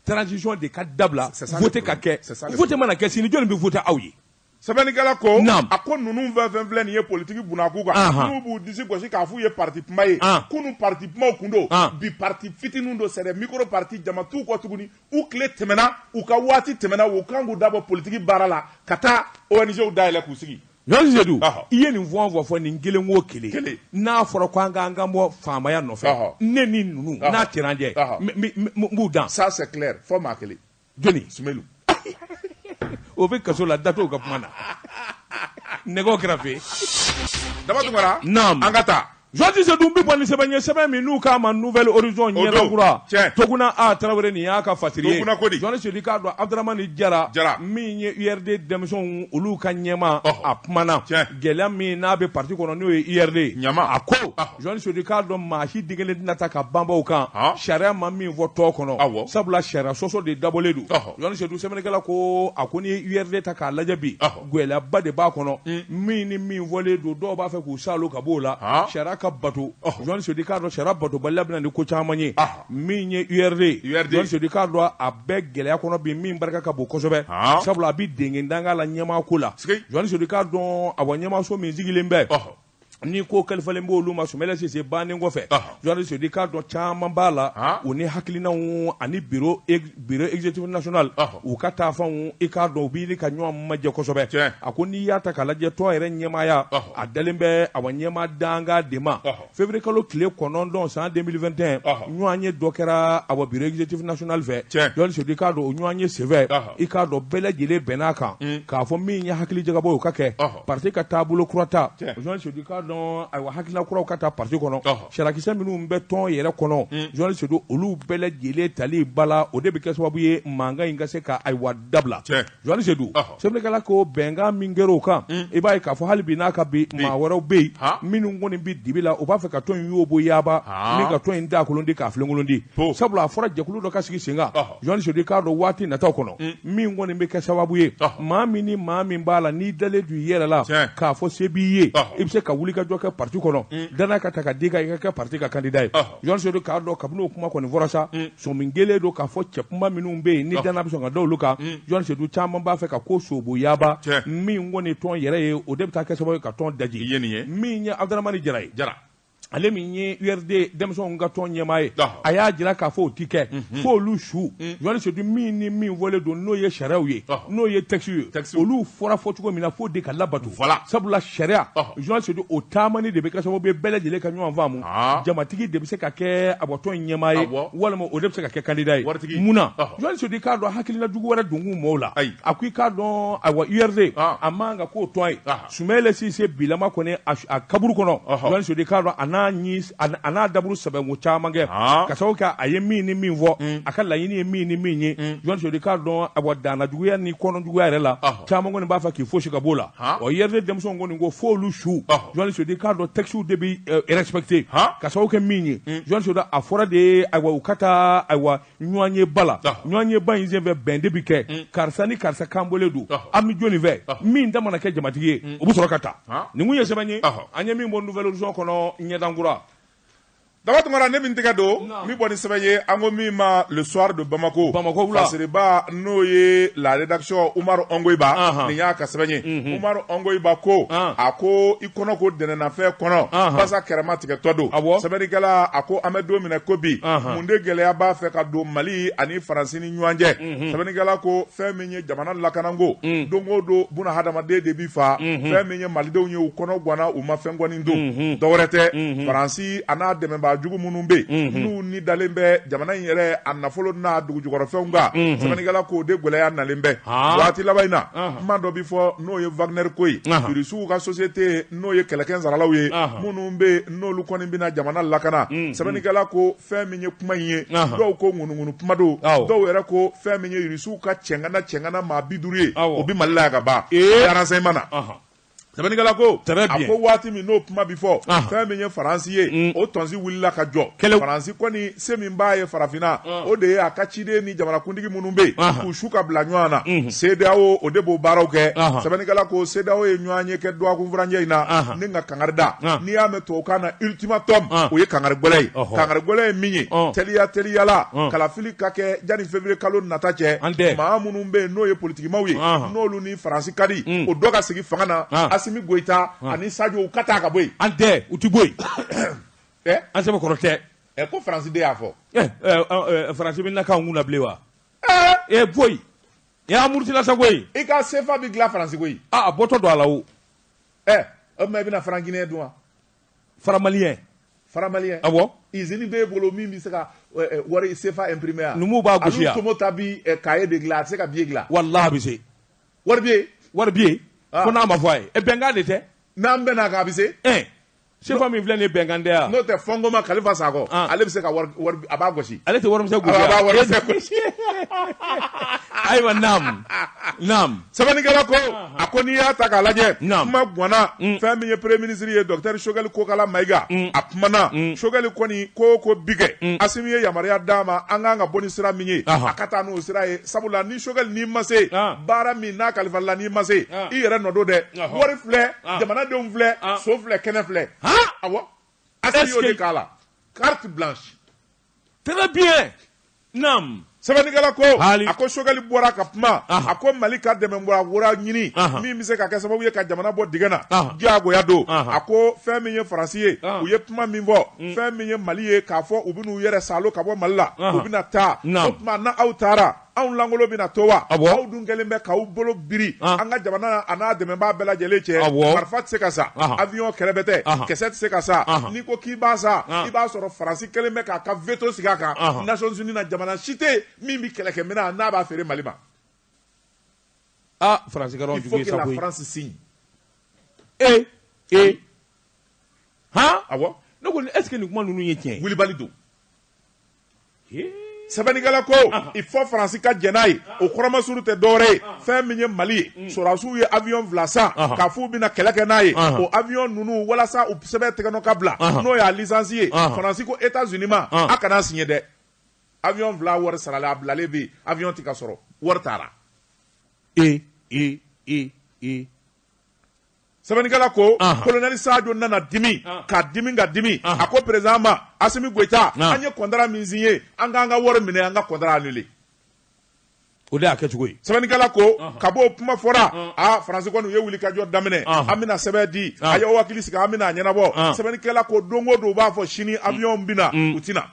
transition de ka dabila vote ka kɛ vote mana kɛ sini jɔnni bɛ vote aw ye sɛbɛnnikɛla ko a ko ninnu fɛn fɛn filɛ nin ye politiki bunakun kan n'u b'u disi gosi k'a f'u ye parti kunba ye kunun parti kunbaw kun don bi parti fitininw don c'est des micro parti jama t'u kɔ tuguni u tile tɛmɛna u ka waati tɛmɛna u kan k'u dabɔ politiki baara la ka taa ONG-w dayɛlɛ k'u sigi Jɔn Sedu i ye nin fɔ an fɔ nin kelen o kelen n'a fɔra ko an k'an kan bɔ faamaya nɔfɛ ne ni ninnu n'a cɛna n jɛ n b'u dan ça c'est clair fɔ maa kelen jɔnni Sumɛlu o bɛ kaso la da t'o ka kuma na nɛgɛw kɛrɛfɛ Daba Tunkara naam an ka taa journaliste Sedu n bɛ bɔ ni sɛbɛn ye sɛbɛn min n'u k'a ma Nouvel Horizon ɲɛda kura Toguna A Tarawele nin y'a ka fasiri ye journaliste Sedu i k'a dɔn Abdramane Jara min ye URD denmisɛnw olu ka ɲɛmaa a kumana gɛlɛya min n'a bɛ parti kɔnɔ n'o ye URD ye a ko journaliste Sedu k'a dɔn maa si denkelen tɛna ta ka banbaw kan sariya ma min fɔ tɔn kɔnɔ sabula sariya sɔsɔ de dabɔlen don journaliste Sedu sɛbɛnnikɛla ko a ko n'i ye URD ta k'a lajɛ bi gɛlɛyaba de b'a kɔnɔ min ni min fɔlen don dɔw b'a fɛ k'u salo ka b'o la sariya ka bato journaliste Sedu k'a dɔn sariya batobaliya bɛ na ni ko caman ye min ye URD journaliste Sedu k'a dɔn a bɛ gɛlɛya kɔnɔ bi min barika ka bon kosɛbɛ sabula a bɛ denkɛ danga la ɲɛmaa ko la journaliste Sedu k'a dɔn a ɲɛmaaso min sigilen bɛ ni ko kalifalen b'olu ma Sumayila Sise bannen kɔfɛ journaliste Sedu k'a dɔn caman b'a la u ni hakilinaw ani bureau exécutif national u ka taa fanw i k'a dɔn u bɛ ɲini ka ɲɔgɔn majɛ kosɛbɛ a ko n'i y'a ta k'a lajɛ tɔn yɛrɛ ɲɛmaaya a dalen bɛ a wa ɲɛmaa dankan de ma février kalo tile kɔnɔntɔn san 2021 ɲɔgɔnye dɔ kɛra a wa bureau exécutif national fɛ journaliste Sedu k'a dɔn o ɲɔgɔnye senfɛ i k'a dɔn bɛɛ lajɛlen bɛnn'a kan k'a fɔ min ye hakili jagabɔ ye o ka kɛ parti ka taabolo kura ta journaliste Sedu k'a dɔn ayiwa hakilina kuraw ka taa parti kɔnɔ sariyakisɛ minnu bɛ tɔn yɛrɛ kɔnɔ journaliste Sedu olu bɛɛ lajɛlen tali bala o de bɛ kɛ sababu ye mankan in ka se ka ayiwa dabila journaliste Sedu sɛbɛnnikɛla ko bɛnkan min kɛra o kan i b'a ye k'a fɔ hali bi n'a ka bi maa wɛrɛw bɛ yen minnu kɔni bɛ dibi la u b'a fɛ ka tɔn in yoboyaba ni ka tɔn in dakolon di k'a filenkolon di sabula a fɔra jɛkulu dɔ ka sigi sen journaliste Sedu k'a dɔn waati nataw kɔnɔ min kɔni bɛ kɛ sababu ye maa min ni maa min b'a la n'i dalen don i yɛrɛ la k'a fɔ se b'i ye i bɛ se ka wuli ka jɔ kɛ parti kɔnɔ dannaya ka ta ka d'i kan i ka kɛ parti ka candidat ye journaliste Sedu k'a dɔn kabini o kuma kɔni fɔra sa sɔmi kɛlen don k'a fɔ cɛkunba minnu bɛ yen ni dannaya bɛ sɔn ka da olu kan journaliste Sedu caman b'a fɛ ka ko sobo yaba min kɔni tɔn yɛrɛ ye o de bɛ taa kɛ sababu ye ka tɔn daji min ye Abdramane Jara ye ale min ye URD denmisɛnw ka tɔn ɲɛmaa ye a y'a jira k'a fɔ o ti kɛ mhm. fo olu su mhm. journaliste Sedu min ni min fɔlen don n'o ye sariyaw ye n'o ye texte ye olu fɔra fɔ cogo min na f'o de ka labato sabula sariya journaliste Sedu o taamani de bɛ kɛ sababu ye bɛɛ lajɛlen ka ɲɔgɔn faamu ah. jamatigi de bɛ se ka kɛ awa tɔn ɲɛmaa ye walima o de bɛ se ka kɛ candidat ye mun na journaliste Sedu k'a dɔn hakilila jugu wɛrɛ donkun mɔɔw la a ko i k'a dɔn awa URD ah. a man kan ka k'o tɔn ye ah. Sumayila Sise bilama kɔni a su a kaburu kɔnɔ ɔhɔ journaliste Sedu k'a dɔn a n'a ni s a n'a a n'a daburu sɛbɛnko caman kɛ haan ka sabu kɛ a ye min ni min fɔ unh a ka laɲini ye min ni min ye unh journaliste Sedu k'a dɔn awa dannajuguya ni kɔnɔjuguya yɛrɛ la ɔhɔ caman kɔni b'a fɛ k'i fosi ka b'o la haan ɔ URD denmisɛnw kɔni ko f'olu su ɔhɔ journaliste Sedu k'a dɔn textew de bɛ respecter haan ka sabu kɛ min ye unh journaliste Sedu a fɔra de ayiwa u ka taa ayiwa ɲɔgɔnyeba la ɲɔgɔnyeba in senfɛ bɛn de bɛ kɛ mm. karisa ni karisa kanbɔlen don an bɛ jɔni fɛ min ta mana kɛ jamatigi ye mm. o bɛ sɔrɔ ka taa nin kun ye sɛbɛn ye an ye min bɔ nouvel horizon kɔnɔ ɲɛdankura daba tunkara ne min tɛgɛ don min bɔ ni sɛbɛn ye an ko min ma le soir de bamako bamako wula fasiriba n'o ye la rédaction umaru ɔngoyiba nin y'a ka sɛbɛn ye umaru ɔngoyiba ko a ko kɔnɔ ko dɛnɛnnafɛn kɔnɔ basa kɛrɛma tigɛtɔ don sɛbɛnnikɛla a ko an bɛ don min na i ko bi mun de gɛlɛya b'a fɛ ka don mali ani faransi ni ɲɔgɔn cɛ sɛbɛnnikɛla ko fɛn min ye jamana lakanako don o don bunahadamaden de bi faa fɛn min ye malidenw ye u kɔnɔ ganna u ma fɛn kɔni don dɔwɛrɛ tɛ faransi a n'a dɛmɛbaa jugu minnu bɛ yen n'u ni dalen bɛ jamana in yɛrɛ a nafolo n'a dugujukɔrɔfɛnw kan sɛbɛnnikɛla k'o de gɛlɛya nalen bɛ waati laban in na kuma dɔ bɛ fɔ n'o ye wagner ko ye irisiw ka société n'o ye kɛlɛkɛsaralaw ye minnu bɛ n'olu kɔni bɛna jamana lakana sɛbɛnnikɛla ko fɛn min ye kuma in ye dɔw ko ŋunuŋunu kuma don dɔw yɛrɛ ko fɛn min ye irisiw ka cɛgana cɛgana maa bi duuru ye o bɛ mali la ka ban renseignement na sɛbɛnnikɛla ko a ko waati min n'o kuma bɛ fɔ fɛn min ye faransi ye o tɔnsi wulila ka jɔ faransi se min b'a ye farafinna o de ye a ka ciden ni jamanakuntigi minnu bɛ yen k'u su ka bila ɲɔgɔn na CEDEAO o de b'o baaraw kɛ sɛbɛnnikɛla ko CEDEAO ye ɲɔgɔnye kɛ dɔgɔkun furancɛ in na ni ka kangari da n'i y'a mɛn tubabukan na ultimatum o ye kangari gɛlɛn ye kangari gɛlɛn ye min ye teliya teliya la kalafili ka kɛ yanni février kalo nata cɛ maa minnu bɛ yen n'o ye politikimaw ye n'olu ni Faransi ka di o dɔ ka sigi fanga na Asimi Goyita ani Sajo u ka taa ka bɔ yen an tɛ u tɛ bɔ yen ɛ an sɛbɛ kɔrɔ tɛ ɛ ko faransi de y'a fɔ ɛ ɛ faransi bɛna k'an kun na bilen wa ɛ ɛ boyi a murutila sa koyi i ka sefa bɛ dilan faransi koyi a an bɔtɔ don a la o ɛ o tuma i bɛna franc guinéen dun wa franc malien franc malien awɔ izini b'e bolo min bɛ se ka wari sefa imprimer yan numuw b'a gosi yan tomota bi kaye de dilan a tɛ se ka biye dilan walahi a bɛ se wari bɛ yen wari bɛ yen fo n'a ma fɔ a ye bɛnkan de tɛ n'an bɛnna kan a bɛ se sefa min filɛ nin ye bɛnkan tɛ yan n'o tɛ fɔnko ma kalifa sakɔ Ah. ale bɛ se ka wari wari a b'a gosi ale tɛ warimisɛn gosi a b'a yan. wari bɛɛ gosi ayiwa naam naam sɛbɛnnikɛla ko a ko n'i y'a ta k'a lajɛ Naam. kuma ganna fɛn min ye premier ministre ye docteur sogɛli kokala mayiga a kumana sogɛli kɔni ko o ko bi kɛ asimi ye yamaruya d'a ma an kan ka bɔ ni sira min ye Aha. a ka taa n'o sira ye sabula ni sogɛli n'i ma se Ah. baara min n'a kalifala n'i ma se Ah. i yɛrɛ nɔ don dɛ Aha. wari filɛ ah. jamanadenw filɛ ah. so filɛ kɛnɛ filɛ awɔ asimi y'o de k'a la carte blanche très bien naam sɛbɛnnikɛla ko a ko sogɛli bɔra ka kuma a ko mali ka dɛmɛ bɔyɔrɔ wɛrɛ ɲini min bɛ se ka kɛ sababu ye ka jamana bɔ digɛn na diyagoya don a ko fɛn min ye faransi ye u ye kuma min fɔ mm. fɛn min ye mali ye k'a fɔ u bɛn'u yɛrɛ salo ka bɔ mali la u bɛna taa o tuma na aw taara anw lankolon bɛna to wa Awɔ. aw dun kɛlen bɛ k'aw bolo biri Ah. an ka jamana a n'a dɛmɛbaa bɛɛ lajɛlen cɛ Awɔ. marifa tɛ se ka san Aha. avion kɛrɛbɛtɛ Aha. kisɛ tɛ se ka san Aha. n'i ko k'i b'a san Ah. i b'a sɔrɔ faransi kɛlen bɛ k'a ka veto sigi a kan Aha. nations unies na jamana si tɛ yen min bɛ kɛlɛkɛminɛn n'a b'a feere mali ma ah faransi kɛra jugu ye sa koyi il faut que la france signe ee ee han awɔ ne ko est ce que nin kuma ninnu ye tiɲɛ ye wulibali don sɛbɛnnikɛla ko il faut faransi ka jɛn n'a ye o kɔrɔ masurun tɛ dɔwɛrɛ ye fɛn min ye mali ye mm. sɔrɔdasiw ye avion fila san k'a f'u bɛna kɛlɛ kɛ n'a ye o avion ninnu walasa u sɛbɛn tɛgɛnɔ ka bila n'o y'a lisansi ye faransi ko etats unis ma a kana siɲɛ dɛ avion fila wari sarala a bilalen bɛ yen avion tɛ ka sɔrɔ wari taara ee ee ee ee sɛbɛnnikɛla ko kolonɛli sajo nana dimi ka dimi ka dimi a ko peresidan ma asimi goyita an ye kɔntara min siɲɛ an k'an ka wari minɛ an ka kɔntara anule o de y'a kɛcogo ye sɛbɛnnikɛla ko kabi o kuma fɔra a faransi kɔni u ye wulikajɔ daminɛ an bɛna sɛbɛn di a ye hakili sigi an bɛn'a ɲɛnabɔ sɛbɛnnikɛla ko don o don u b'a fɔ sini abiyɔn bɛna u tɛna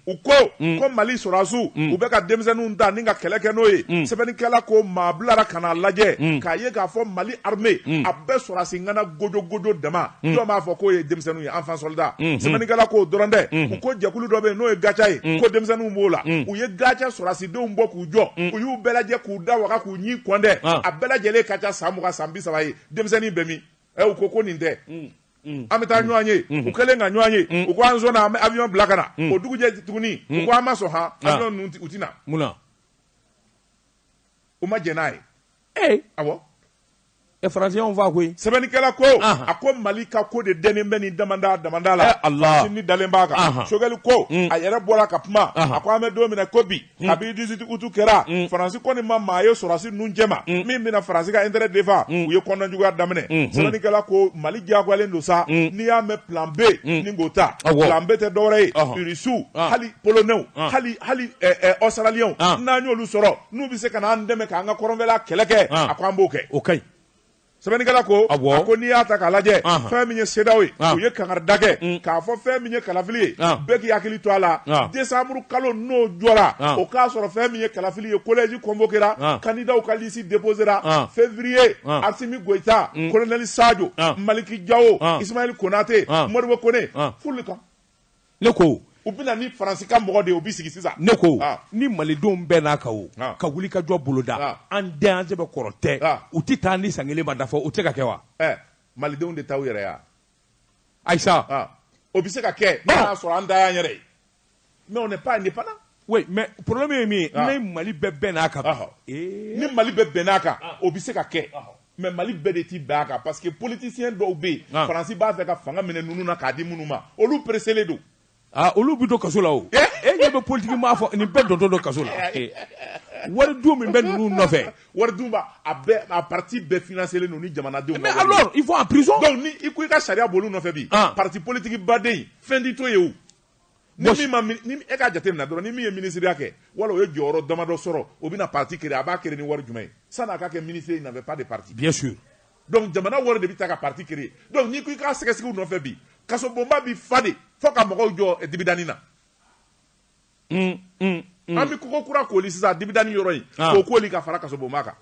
u ko ko mali sɔrɔsiw u bɛ ka denmisɛnninw ta ni ka kɛlɛ kɛ n'o ye sɛbɛnnikɛla ko maa bilara ka n'a lajɛ k'a ye k'a fɔ mali armée mm. a bɛɛ sɔrɔdasi ŋana gojo gojo dama mm. jɔn b'a fɔ k'o ye denmisɛnninw ye enfant soldat mm-hmm. sɛbɛnnikɛla k'o dɔrɔn tɛ mm-hmm. u ko jɛkulu dɔ bɛ yen n'o ye gatia ye mm. ko denmisɛnninw b'o la u ye gatia sɔrɔdasidenw bɔ k'u jɔ u y'u bɛɛ lajɛ k'u da waga k'u ɲin kɔnte ah. a bɛɛ lajɛlen ka ca san mugan san bi saba ye denmisɛnnin bɛ min ɛ u ko ko nin tɛ an bɛ taa ɲɔgɔn ye u kɛlen ka ɲɔgɔn ye u ko an sɔnna an bɛ avion bila ka na o dugujɛ tuguni u ko an ma sɔn han ah. avion ninnu u tɛna mun na u ma jɛn n'a ye ee awɔ faransi y'an faa koyi sɛbɛnnikɛla ko a ko mali ka ko de dɛnnen bɛ ni damanda la a ni dalen b'a kan sogɛli ko mm. a yɛrɛ bɔra ka kuma a ko an bɛ don min na ko bi mm. kabi dix huit août kɛra mm. faransi kɔni ma maa ye sɔrɔsi ninnu cɛma min bɛna faransi ka intérêt défend u ye kɔnɔnajuguya daminɛ sɛbɛnnikɛla ko mali diyagoyalen don sa n'i y'a mɛn plan b ni ko ta plan b tɛ dɔwɛrɛ ye irisiw hali polonɛw hali hali ɔsitaraliw n'an y'olu sɔrɔ n'u bɛ se ka n'an dɛmɛ k'an ka kɔrɔnfɛla kɛlɛ kɛ ah. a ko an b'o kɛ o ka ɲi sɛbɛnnikɛla ko a ko n'i y'a ta k'a lajɛ ah. fɛn min ye CEDEAO ye ah. u ye kankarida kɛ mm. k'a fɔ fɛn min ye kalafili ye bɛɛ k'i hakili to a la desanburu kalo n'o jɔra o k'a sɔrɔ fɛn min ye kalafili ye kolɛji kɔnvokera kandidaw ka lisi deposera fevriye asimi goyita kolonɛli mm. sajo maliki jawo isimayɛli konate modibo kone fulu kan ne ko u bɛna ni faransi ka mɔgɔ de ye u bɛ sigi sisan ne ko ah. ni malidenw bɛnn'a kan u ah. ka wuli ka jɔ boloda ah. an den an sɛbɛ kɔrɔ tɛ u tɛ taa ni san kelen ma dafa o tɛ se ka kɛ wa eh, malidenw de ta y'u yɛrɛ ye ayisa o bɛ se ka kɛ n'a y'a sɔrɔ an ta y'an yɛrɛ ye mais on n'est pas indépendant oui mais problème ye min ye ni mali bɛɛ bɛnn'a kan ni mali bɛɛ bɛnn'a kan o bɛ se ka kɛ mais mali bɛɛ de ti bɛn a kan parce que politisiyɛn dɔw bɛ yen ah. faransi b'a fɛ ka fanga minɛ ninnu na k'a di minnu ma olu pereselen don ah, olu bɛ don kaso la o eh? e ɲɛ bɛ politiki maa fɔ nin bɛɛ dontɔ don kaso la eh. wari dun min bɛ ninnu nɔfɛ wari dun b'a a bɛɛ a parti bɛɛ financelen don ni jamanadenw mais alors ils vont en prison donc ni i ko i ka sariya bol'u nɔfɛ bi ah. parti politiki baden fɛn ti to yen o ni min ma min- ni e ka jate minɛ dɔrɔn ni min ye minisiriya kɛ wala o ye jɔyɔrɔ damadɔ sɔrɔ o bɛna parti créer a b'a créer ni wari jumɛn ye sani a ka kɛ minisiri il n'avait pas de parti bien sûr donc jamana wari de bɛ ta ka parti créer donc n'i ko i ka sɛgɛsɛgɛ u nɔfɛ bi kasobonba bi fa de fo ka mɔgɔw jɔ eh, dibidani na an bɛ kogo kura kooli sisan dibidani yɔrɔ in Ah. k'o kooli ka fara kasobonba kan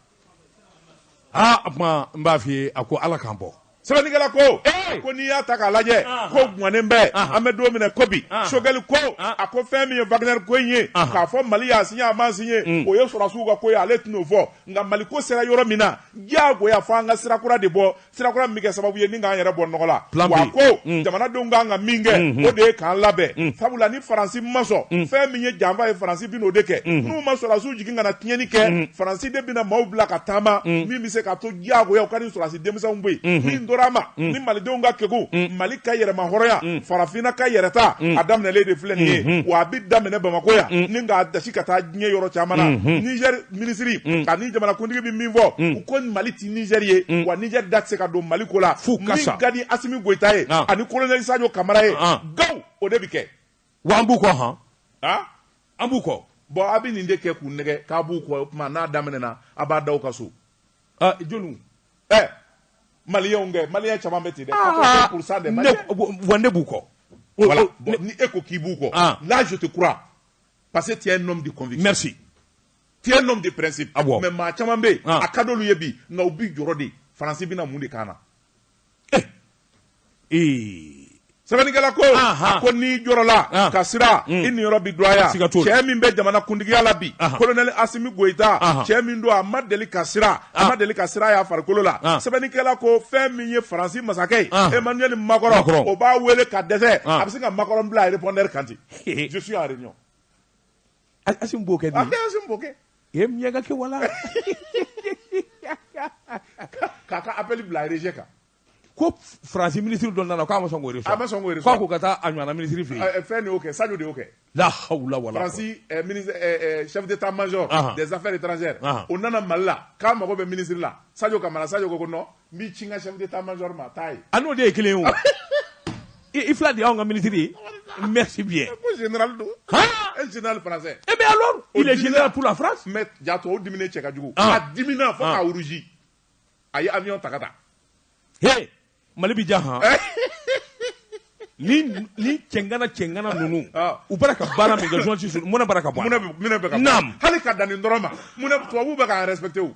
aa o tuma n b'a f'i ye a ko ala k'an bɔ sɛbɛnnikɛla ko Ee! ko n'i y'a ta k'a lajɛ Ahan. ko gwannen bɛ Ahan. an bɛ don min na ko bi Ahan. Choguel ko Ahan. a ko fɛn min ye wagner ko in ye Ahan. k'a fɔ mali y'a siɲɛ a ma siɲɛ Mm. o ye sɔrɔdasiw ka ko ye ale tɛn'o fɔ nka mali ko sera yɔrɔ min na diyagoya fo an ka sira kura de bɔ sirakura min bɛ kɛ sababu ye ni k'an yɛrɛ bɔ nɔgɔ la wa ko mm. jamanadenw kan ka min kɛ mm-hmm. o de ye k'an labɛn mm. sabula ni faransi ma sɔn mm. fɛn min ye janfa ye faransi bɛn'o de kɛ mm-hmm. n'u ma sɔrɔdasiw jigin ka na tiɲɛni kɛ mm-hmm. faransi de bɛna maaw bila ka taama min bɛ se ka to diyagoya u ka ni sɔrɔdasi denmisɛnw bɔ yen min tora a ma ni malidenw ka kegun mali ka yɛrɛma hɔrɔnya farafinna ka yɛrɛta a daminɛlen de filɛ nin ye wa a bɛ daminɛ bamako yan ni k'a dasi ka taa diɲɛ yɔrɔ caman na nizɛri minisiri mm. ani jamanakuntigi bɛ min fɔ mm. u ko mali ti nizɛri ye mm. wa nizɛri da tɛ se ka don mali ko la f'u ka sa min ka di asimi goyita ye ah. ani kolonɛli sajo kamara ye ah. gaw o de bɛ kɛ wa an b'u kɔ han ah? an b'u kɔ bon a bɛ nin de kɛ k'u nɛgɛn k'a b'u kɔ o tuma n'a daminɛna a b'a da u ka so joliw ɛ eh, maliyɛnw kɛ maliyɛn caman bɛ ten dɛ ah. quatre-vingt pourcent des maliyɛn wa ne b'u kɔ voilà ni e ko k'i b'u kɔ là je te crois parce que tu es un homme de conviction merci tu es un homme de principe ah bon. mais maa caman bɛ yen ah. a ka d'olu ye bi nka u bi jɔrɔ de faransi bɛna mun de k'an na eh. eh. sɛbɛnnikɛla ko ah, ah. a ko n'i jɔrɔla ah. ka siran mm. i niyɔrɔ bi dɔgɔya cɛ min bɛ jamana kuntigiya la bi kolonɛli asimi goyita cɛ min don a ma deli ka siran a ma deli ka siran y'a farikolo la sɛbɛnnikɛla ko fɛn min ye faransi masakɛ ye emmanuel macron o b'a wele ka dɛsɛ a bɛ se ka macron bila répondeur kan ten je suis en réunion asimi b'o kɛ dɛ asimi b'o kɛ ye miɲɛka kɛ wala k'a ka appel bila rejet kan ko faransi ministre dɔ nana k'a ma sɔn k'o reçoit a ma sɔn k'o reçoit k'a ko ka taa a ɲɔgɔnna ministre fɛ yen fɛn de y'o kɛ sadio de y'o kɛ la hawla wala faransi eh, eh, eh, chef d'état major des affaires étrangères o nana mali la k'a mago bɛ ministre la sadio kamara sadio ko ko non n b'i ci n ka chef d'état major ma taa ye a n'o de ye kelen ye o i i fila de y'anw ka ministre ye merci bien ko général don Han! un général français eh bien alors il est dimina- général pour la France mais jato o dimina cɛ kojugu Ah. a dimina fo Ah. ka rougi a ye avion ta ka taa he mali bi diya han ni ni cɛngana cɛngana ninnu Ah. u bara ka baara min kɛ journaliste ninnu, mun na bara ka bɔ a la? munɛ bɛ- munɛ bɛ ka Naam. hali ka dan nin dɔrɔn ma mun na tubabuw bɛ k'an respecter o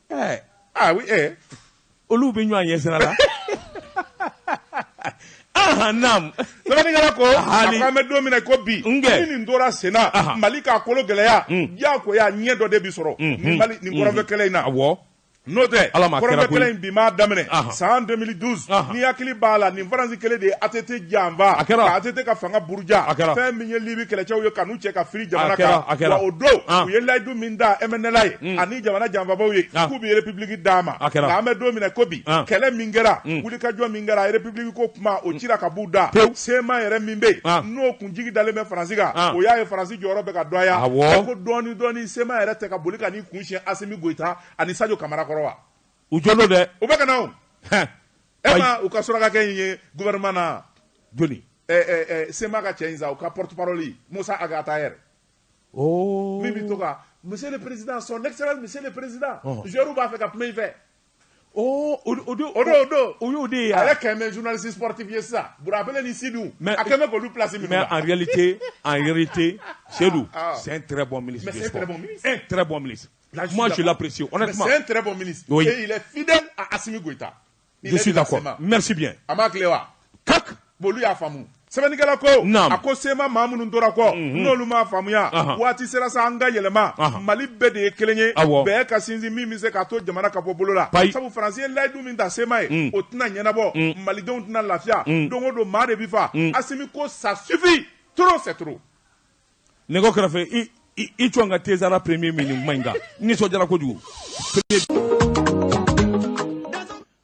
Eh, ah oui, eh. Olu bɛ ɲɔgɔn ɲɛ sira la. Ahan naam. Sɛbɛnnikɛla ko a ko an bɛ don min na ko bi. N kɛ. Ni nin tora sen na. Ahan. Mali k'a kolo gɛlɛya. Un. Diyagoya ɲɛ dɔ de bi sɔrɔ. Unhun. Nin Mali nin kɔrɔnfɛ kɛlɛ in na. Awɔ. N'o tɛ Ala ma kɛra koyi. kɔrɔnfɛ kɛlɛ in bi m'a daminɛ. Ahan. San 2012. Ahan. N'i hakili b'a la nin Faransi kelen de ye ATT janfa. A kɛra. Ka ATT ka fanga buruja. A kɛra. Fɛn min ye Libi kɛlɛcɛw ye ka n'u cɛ ka firi jamana A kɛra, kan. a kɛra. Wa o don An. u ye layidu min ta MNLA ye. Un. Ani jamana janfabaw ye ah. k'u bɛ république d'a ma ah, nka an bɛ don min na ko bi ah. kɛlɛ min kɛra mm. wulikajɔ min kɛra république ko kuma o cira ka b'u da CMA yɛrɛ min bɛ yen n'o kun jigi dalen bɛ faransi kan o y'a ye faransi jɔyɔrɔ bɛ ka dɔgɔya ko dɔɔni dɔɔni CMA yɛrɛ tɛ ka boli ka n'i kun siɲɛ asimi goyita ani sadio kamara kɔrɔ wa u jɔlen don dɛ u bɛ ka na o e ma u ka surakakɛ in ye gouvernement na jɔni eh, eh, eh, CMA ka cɛ in sa u ka porte parole musa ag attaher min bɛ to ka monsieur le président son excellence monsieur le président joueurs b'a fɛ ka kuma i fɛ o don o don o y'o de ye ale kɛn bɛ journaliste sportif ye sisan Burabele ni Sidu a kɛn bɛ k'olu place minɛ mais en réalité en réalité Seydou c'est un très bon ministre mais c'est un très bon ministre un très bon ministre moi je l'apprécie honnêtement c'est un très bon ministre et il est fidèle à Assimi Goïta je suis d'accord merci bien a m'a kile wa kak bolu y'a faamu sɛbɛnnikɛla ko a ko CMA maa minnu tora kɔ mhm. n'olu m'a faamuya waati sera sa an ka yɛlɛma mali bɛɛ de ye kelen ye bɛɛ ka sinsin min bɛ se k'a to jamana ka bɔ bolo la sabu faransi ye layidu min ta CMA ye mm. o tɛna ɲɛnabɔ mm. malidenw tɛna lafiya mm. don o don maa de bɛ fa asimi ko ça suffit trop c'est trop nɛgɛ kɛrɛfɛ i cɔn ka tezara premier ministre kuma in kan n nisɔndiyara kojugu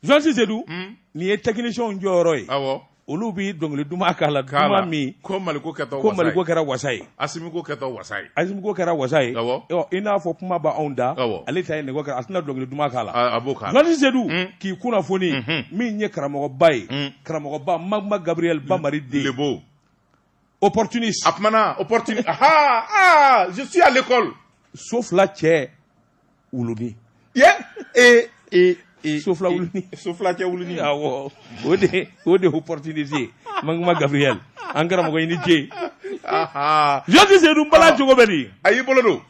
journaliste Seydou hmm? nin ye technicienw jɔyɔrɔ ye awɔ olu bi dɔnkili duman kala duman min ko Mali ko kɛtɔ ko Mali ko kɛra wasa ye Asimi ko kɛtɔ wasa ye Asimi ko kɛra wasa ye awɔ i n'a fɔ kuma b'anw da awɔ ale ta ye nɛgɛ kɛra a tɛna dɔnkili duman kala a b'o kala journaliste Seydou hmm? k'i kunnafoni hmm, min ye karamɔgɔba ye karamɔgɔba Magma Gabriel Bamari den Lebo opportuniste a opportuniste ah ah je suis à l'école so fila cɛ wuluni ye ee ee ee so fila wuluni so fila cɛ wuluni awɔ o de o de opportuniste ye Magma Gabriel an karamɔgɔ i ni ce journaliste Seydou bala cogo bɛ di a y'i bolo don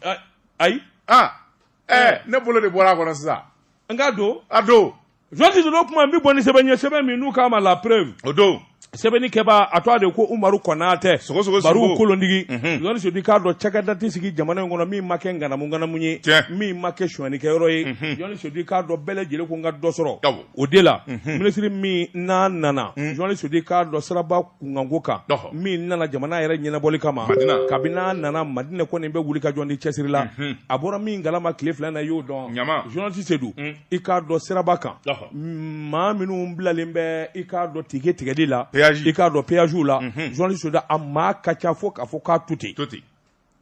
ayi ah ɛɛ ne bolo de bɔra a kɔnɔ sisan n k'a don a don journaliste Seydou kuma n bɛ bɔ ni sɛbɛn ye sɛbɛn min n'u k'a ma la preuve o don sɛbɛnni kɛbaa a tɔgɔ de ko Umaru Kɔnatɛ sogo sogo Baru kolondigi journaliste Seydou k'a dɔn cakɛda tɛ sigi jamana in kɔnɔ min ma kɛ nganamu nganamu ye tiɲɛ min ma kɛ sonyɛnikɛyɔrɔ ye journaliste Seydou k'a dɔn bɛɛ lajɛlen ko n ka dɔ sɔrɔ awɔ o de la minisiri min n'a nana journaliste Seydou k'a dɔn siraba kunkanko kan ɔhɔ min nana jamana yɛrɛ ɲɛnabɔli kama Madina kabini n'a nana Madinɛ kɔni bɛ wulikajɔ ni cɛsiri la a bɔra min kalama tile fila in na i y'o dɔn ɲama journaliste Seydou i k'a dɔn siraba kan maa minnu bilalen bɛ i k'a dɔn tike tigɛli la i k'a dɔn peyajw la journaliste Seydou a maa ka ca fo k'a fɔ k'a to ten to ten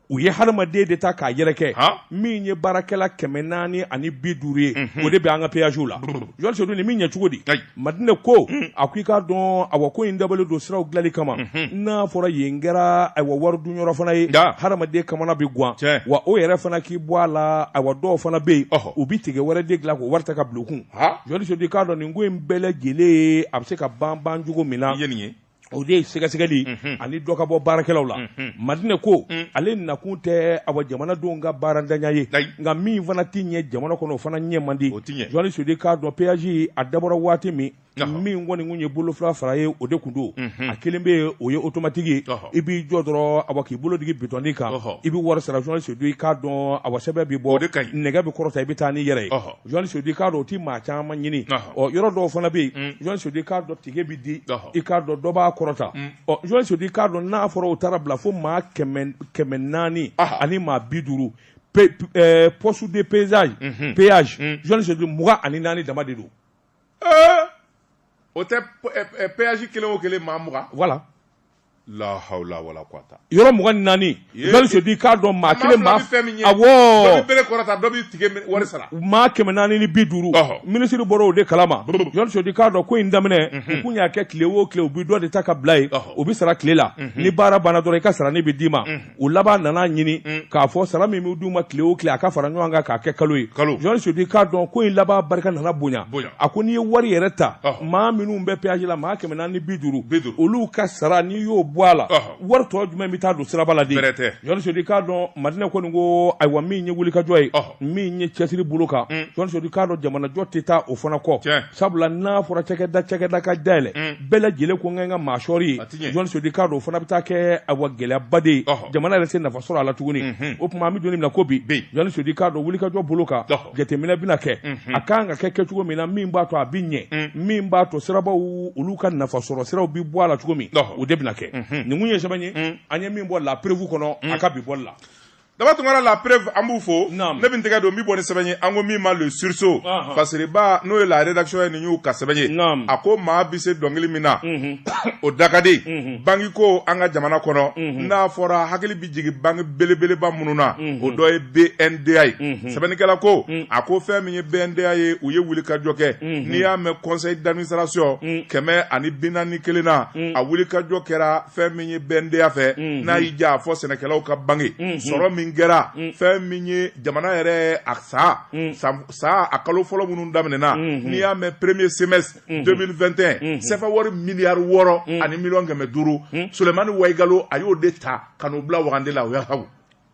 u ye hadamaden de ta k'a yɛrɛkɛ min ye baarakɛla kɛmɛ naani ani bi duuru ye o de bɛ an ka peyajw la journaliste Seydou nin bɛ ɲɛ cogo di Madinɛ ko a ko i k'a dɔn awa ko in dabɔlen don siraw dilanli kama n'a fɔra yen kɛra awa wari dunyɔrɔ fana ye hadamaden kamana bɛ gan wa o yɛrɛ fana k'i bɔ a la awa dɔw fana bɛ yen u bɛ tike wɛrɛ de dilan k'o wari ta ka bila u kun journaliste Seydou i k'a dɔn nin ko in bɛɛ lajɛlen a bɛ se ka ban ban cogo min na ye nin ye o de ye sɛgɛsɛgɛli ani dɔ ka bɔ baarakɛlaw la madinɛ ko ale nakun tɛ awa jamanadenw ka baarantanya ye nka min fana tɛ ɲɛ jamana kɔnɔ o fana ɲɛ man di journaliste Seydou i k'a dɔn peyaji a dabɔra waati min min kɔni tun ye bolo fila fara ye o de tun don a kelen bɛ yen o ye otomatiki ye i b'i jɔ dɔrɔn awa k'i bolo digi bitɔnnin kan i bɛ wari sara journaliste Seydou i k'a dɔn awa sɛbɛn bɛ bɔ nɛgɛ bɛ kɔrɔta i bɛ taa n'i yɛrɛ ye Journaliste Seydou i k'a dɔn o tɛ maa caman ɲini ɔ yɔrɔ dɔw fana bɛ yen journaliste Seydou i k'a dɔn tike bɛ di i k'a dɔn dɔ b'a kɔrɔta ɔ journaliste Seydou i k'a dɔn n'a fɔra o taara bila fo maa kɛmɛ naani ani maa bi duuru poste de pesage péage journaliste Seydou mugan ani naani dama de don o tɛ péage kelen o kelen maa mugan voilà yɔrɔ mugan ni naani journaliste Seydou i k'a dɔn maa kelen maa kɛmɛ naani ni bi duuru minisiri bɔra o de kalama journaliste Seydou i k'a dɔn ko in daminɛ u tun y'a kɛ tile o tile u bɛ dɔ de ta ka bila yen u bɛ sara tile la ni baara banna dɔrɔn i ka saranin bɛ d'i ma o laban nana ɲini mm. k'a fɔ sara min bɛ d'u ma tile o tile a ka fara ɲɔgɔn kan k'a kɛ kalo ye jɔn sudi k'a dɔn ko in laban barika nana bonya a ko n'i ye wari yɛrɛ ta maa minnu bɛ péage la maa kɛmɛ naani ni bi duuru olu ka sara n'i y'o bɔ a la wari tɔ jumɛn bɛ taa don siraba la de jɔn sudi k'a dɔn madinɛ kɔni ko ayiwa min ye wulikajɔ ye min ye cɛsiri bolo kan jɔnsodi k'a dɔn jamanajɔ tɛ taa o fana kɔ sabula n'a fɔra cakɛda cakɛda ka dayɛlɛ bɛɛ lajɛlen ko n ka maa sɔri yen jɔnsodi k'a dɔn o fana bɛ taa kɛ ayiwa gɛlɛyaba de ye jamana yɛrɛ tɛ nafa sɔrɔ a la tuguni o tuma an bɛ don min na ko bi jɔnsodi k'a dɔn wulikajɔ bolo kan jateminɛ bɛna kɛ a ka kan ka kɛ kɛcogo min na min b'a to a bɛ ɲɛ min b'a to sirabaw olu ka nafa sɔrɔ siraw bɛ bɔ a la cogo min o de bɛna kɛ nin ye sɛbɛn ye an ye min bɔ la preuve kɔnɔ a ka bi bɔ la daba tunkara la preuve an b'u fo ne bɛ n tɛgɛ don n bɛ bɔ ni sɛbɛn ye an ko min ma le sursaut fasiriba n'o ye la rédaction ye nin y'u ka sɛbɛn ye a ko maa bɛ se dɔnkili min na o da ka di banki ko an ka jamana kɔnɔ n'a fɔra hakili bɛ jigin banki belebeleba minnu na o dɔ ye BNDA ye sɛbɛnnikɛla ko a ko fɛn min ye BNDA ye u ye wulikajɔ kɛ n'i y'a mɛn conseil d'administration kɛmɛ ani bi naani ni kelen na a wulikajɔ kɛra fɛn min ye BNDA fɛ mm-hmm. n'a y'i ja a fɔ sɛnɛkɛlaw ka banki mm-hmm. sɔrɔ min kɛra mm-hmm. fɛn min ye jamana yɛrɛ a san san a kalo fɔlɔ minnu daminɛna n'i y'a mɛn premier semestre 2021 sɛfɛ wari miliyari wɔɔrɔ ani miliyɔn kɛmɛ duuru sulemani wayigalo a y'o de ta ka n'o bila wagande la o y'a haw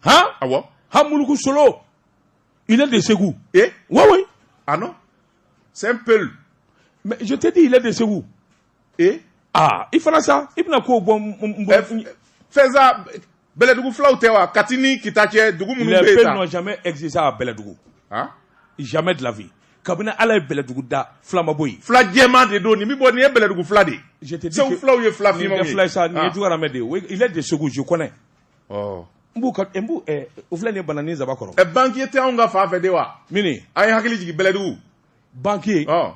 han awɔ han muluku solo il est de Ségou eh oui oui ah non c'est un peul mais je te dis il est de Ségou ee aa i fana sa i bɛna kow bɔ n- n- n bolo. Ɛ, fɛnsa bɛlɛdugu fulaw tɛ wa kati ni kita cɛ dugu minnu bɛ yen les peuls n'ont jamais existé à Bɛlɛdugu Han? jamais de la vie kabini ala ye Bɛlɛdugu da fila ma bɔ yen fila jɛman de don nin bɛ bɔ nin ye bɛlɛdugu fila de ye je te dis segu que- fulaw ye fila nin finmanw tɛ ye fila ye sa nin ye Ah. jugaramɛ de ye Oui, il est de Segu je connais Ɔ. n b'u ka n b'u ɛ o filɛ nin ye bananin zaba kɔrɔ Ɛ, banquier tɛ anw ka fan fɛ de wa mini an ye hakili jigin bɛlɛdugu banquier ɔ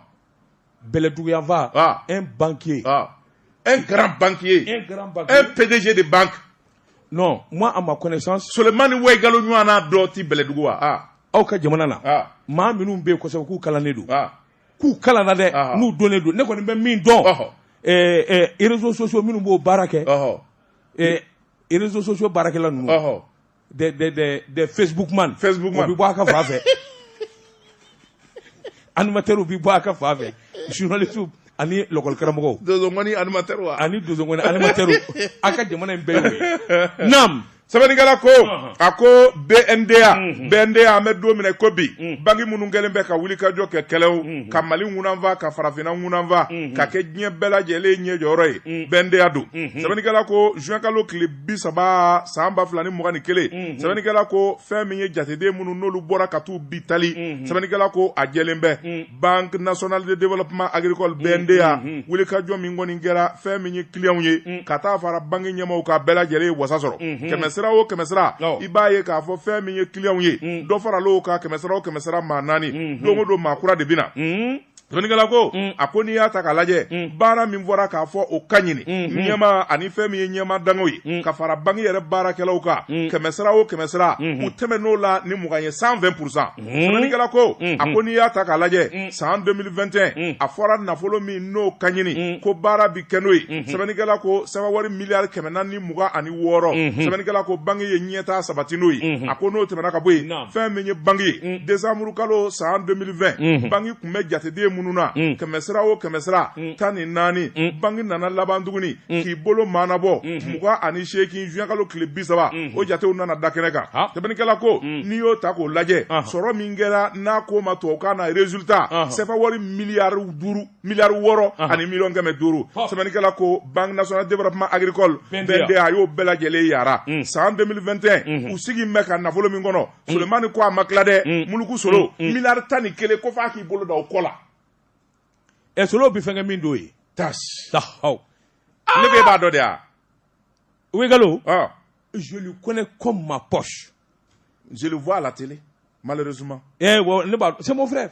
bɛlɛdugu yanfan ah. un banquier ah. un grand banquier un grand banquier un PDG de banque non moi à ma connaissance Sulemani Wayigalo ɲɔgɔnna dɔ tɛ bɛlɛdugu wa ah. aw ka jamana na ah. maa minnu bɛ yen kosɛbɛ k'u kalannen don ah. k'u kalanna dɛ ah. n'u dɔnnen don ne kɔni bɛ min dɔn oh. eh, eh, réseaux sociaux minnu b'o baara kɛ eh, réseaux sociaux baarakɛla ninnu des, des, des, des Facebook man. Facebook man. O bɛ bɔ a ka fan fɛ. animateur bɛ bɔ a ka fan fɛ. journaliste ani lɔkɔli karamɔgɔw. dozongɔni animateur wa. ani dozongɔni animateur a ka jamana in bɛɛ y'o ye. naam. sɛbɛnnikɛla ko a ko bnda mhm. bnda an bɛ don min na ko bi mhm. banki minnu kɛlen bɛ ka wulikajɔ kɛ kɛlɛw mhm. ka mali ŋunanfa ka farafinna ŋunanfa ka kɛ diɲɛ bɛɛ lajɛlen ɲɛ jɔyɔrɔ ye bnda don sɛbɛnnikɛla ko juin kalo tile bi saba san ba fila ni mugan ni kelen mhm. sɛbɛnnikɛla ko fɛn min ye jateden minnu n'olu bɔra ka t'u bi tali mhm. sɛbɛnnikɛla ko a jɛlen bɛ mhm. banque nationale de développement agricole bnda wulikajɔ min kɔni kɛra fɛn min ye kiliyanw ye ka taa fara banki ɲɛmaaw ka bɛɛ lajɛlen ye wasa sɔrɔ kɛmɛsira o kɛmɛsira i b'a ye k'a fɔ fɛn min ye kiliyanw ye dɔ faral'o ka kɛmɛsira o kɛmɛsira maa naani don o don maa kura de bɛna sɛbɛnnikɛla ko a ko n'i y'a ta k'a lajɛ baara min fɔra k'a fɔ o ka ɲini ɲɛma ani fɛn min ye ɲɛmaa dankanw ye ka fara banki yɛrɛ baarakɛlaw kan kɛmɛsira o kɛmɛsira u tɛmɛn'o la ni mugan ye 120 pour cent sɛbɛnnikɛla ko a ko n'i y'a ta k'a lajɛ san 2021 a fɔra nafolo min n'o ka ɲini ko baara bɛ kɛ n'o ye sɛbɛnnikɛla ko sefa wari miliyari kɛmɛ naani mugan ani wɔɔrɔ sɛbɛnnikɛla ko banki ye ɲɛtaa sabati n'o ye a ko n'o tɛmɛna ka bɔ yen fɛn min ye banki ye mm. décembre kalo san 2020 mm-hmm. banki tun bɛ jateden minnu na mm. kɛmɛsira o kɛmɛsira mm. tan ni naani banki nana laban tuguni k'i bolo maanabɔ mm-hmm. mugan ani seegin juin kalo tile bi saba mm-hmm. o jatew nana da kɛnɛ kan sɛbɛnnikɛla ko n'i y'o ta k'o lajɛ uh-huh. sɔrɔ min kɛra n'a ko ma tubabukan na résultat uh-huh. sefa wari miliyari duuru miliyari wɔɔrɔ ani miliyɔn kɛmɛ duuru sɛbɛnnikɛla ko banque nationale de développement agricole bnda a y'o bɛɛ lajɛlen yara mm. san 2021 mm-hmm. u sigi bɛ ka nafolo min kɔnɔ mm. solomani ko a ma tila dɛ mm. muluku solo miliyari tan ni kelen ko f'a k'i bolo da o kɔ la ɛ solo bi fɛnkɛ min don ye tasi tahaw ah! ne b'e b'a dɔn dɛ ah oui gallo ah. je lui connais comme ma poche je le vois à la télé malheureusement eh, ne b'a c'est mon frère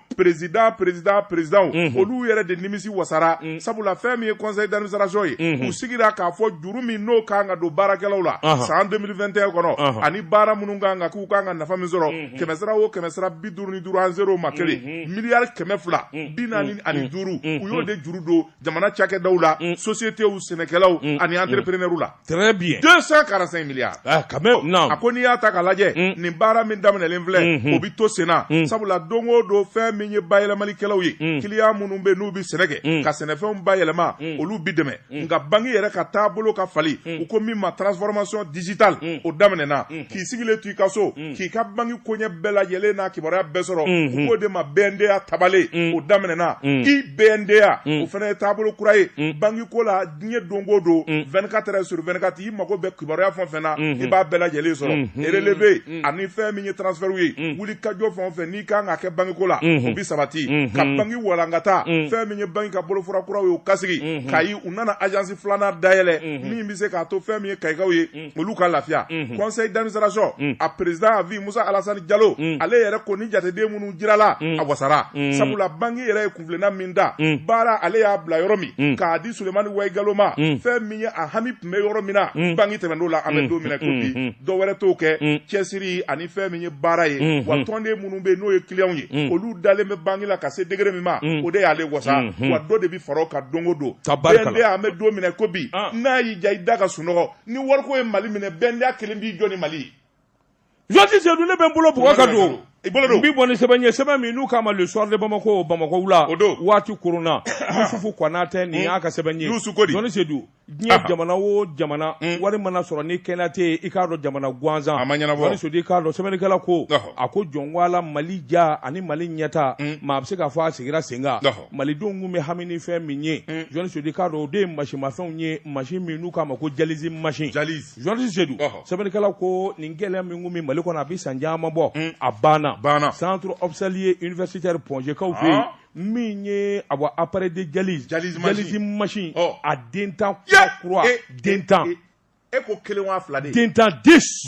président président président mhm. olu yɛrɛ de nimisi wasara mhm. sabula fɛn min ye conseil d'administration ye mhm. u sigira k'a fɔ juru min n'o kan ka don baarakɛlaw la san 2021 kɔnɔ ani baara minnu kan ka k'u kan ka nafa min sɔrɔ kɛmɛsira o kɛmɛsira bi duuru ni duuru ani zéro ma kelen miliyari kɛmɛ fila bi naani ani duuru u y'o de juru don jamana cakɛdaw la mm. sociétéw sɛnɛkɛlaw mm. ani mm. entrepreneurw la très bien 245 milliards ah, a ko n'i y'a ta k'a lajɛ nin baara min daminɛlen filɛ mm-hmm. o bɛ to senna sabula don o don fɛn min ye bayɛlɛmalikɛlaw ye kiliyan minnu bɛ n'u bɛ sɛnɛ kɛ ka sɛnɛfɛnw bayɛlɛma olu bɛ dɛmɛ nka banki yɛrɛ ka taabolo ka fali u ko min ma transformation digitale o daminɛna k'i sigilen to i ka so mm. k'i ka banki koɲɛ bɛɛ lajɛlen n'a kibaruya bɛɛ sɔrɔ mm-hmm. u k'o de ma bnda tabale mm. o daminɛna mm. i bnda o fana ye taabolo kura ye banki ko la diɲɛ don o don 24 heures sur 24 i mago bɛ kibaruya fɛn o fɛn na mm-hmm. i b'a bɛɛ lajɛlen sɔrɔ mm-hmm. relevé ani fɛn min ye transfert ye wulikajɔ fɛn o fɛn n'i kan ka kɛ banki ko la o bi sabati ka banki walankata fɛn min ye banki ka bolofara kuraw ye o ka sigi kayi u nana agence filanan dayɛlɛ min bɛ se k'a to fɛn min ye kayikaw ye olu ka lafiya conseil d'administration a président à vie musa alasani jalo ale yɛrɛ ko ni jateden minnu jirala a wasara sabula banki yɛrɛ ye kunfilɛnna min da baara ale y'a bila yɔrɔ min k'a di sulemani waigalo ma fɛn min ye a hami tun bɛ yɔrɔ min na banki tɛmɛn'o la an bɛ don minɛ ko bi dɔ wɛrɛ t'o kɛ cɛsiri ani fɛn min ye baara ye wa tɔnden minnu bɛ yen n'o ye clients ye olu dalen bɛ banki la ka se degré min ma o de y'ale wasa wa dɔ de bɛ fara o kan don o don BNDA an bɛ don minɛ ko bi n'a y'i ja i da ka sunɔgɔ ni wariko ye mali minɛ BNDA kelen b'i jɔ ni mali ye jɔti sedu ne bɛ n bolo bugɔ ka don i bolo don n b'i bɔ ni sɛbɛn ye sɛbɛn min n'u k'a ma le soir de bamako bamakɔ wula o don waati korona yusufu konate nin y'a ka sɛbɛn ye yusu ko di jɔni sedu diɲɛ jamana o jamana wari mana sɔrɔ ni kɛnɛya tɛ yen i k'a dɔn jamana gansan a ma ɲɛnabɔ jɔni sedu i k'a dɔn sɛbɛnnikɛla ko a ko jɔn wala mali ja ani mali ɲɛtaa maa a bɛ se k'a fɔ a sigira sen kan malidenw tun bɛ hami ni fɛn min ye mm. journaliste sedu i k'a dɔn o de ye masinmafɛnw ye masin min n'u k'a ma ko dialyse masin journaliste sedu sɛbɛnnikɛla ko nin gɛlɛya min tun bɛ mali kɔnɔ a bɛ san caman bɔ mm. a banna banna centre hospitalier universitaire point g kaw fɛ yen min ye awa appareil de dialyse dialyse masin a den tan kura kura den tan e ko kelen wa fila de den tan dix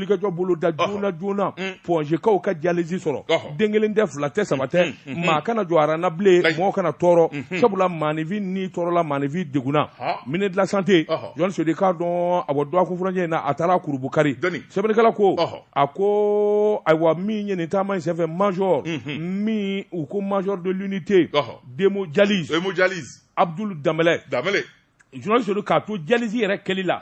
wulikajɔ boloda joona joona mm. point g kaw ka dialyse sɔrɔ den kelen tɛ fila tɛ saba tɛ mm, mm, maa kana jɔ arana bilen mɔgɔ kana tɔɔrɔ mm-hmm. sabula maanifin ni tɔɔrɔla maanifin degunna ministre de la santé jɔn sedu i k'a dɔn awa dɔgɔkun furancɛ in na a taara kurubukari sɛbɛnnikɛla ko a ko ayiwa min ye nin taama in senfɛ major mm-hmm. min u ko major de l'unité d'hémodialyse abdul danbɛlɛ journaliste sedu k'a to dialyse yɛrɛ kɛli la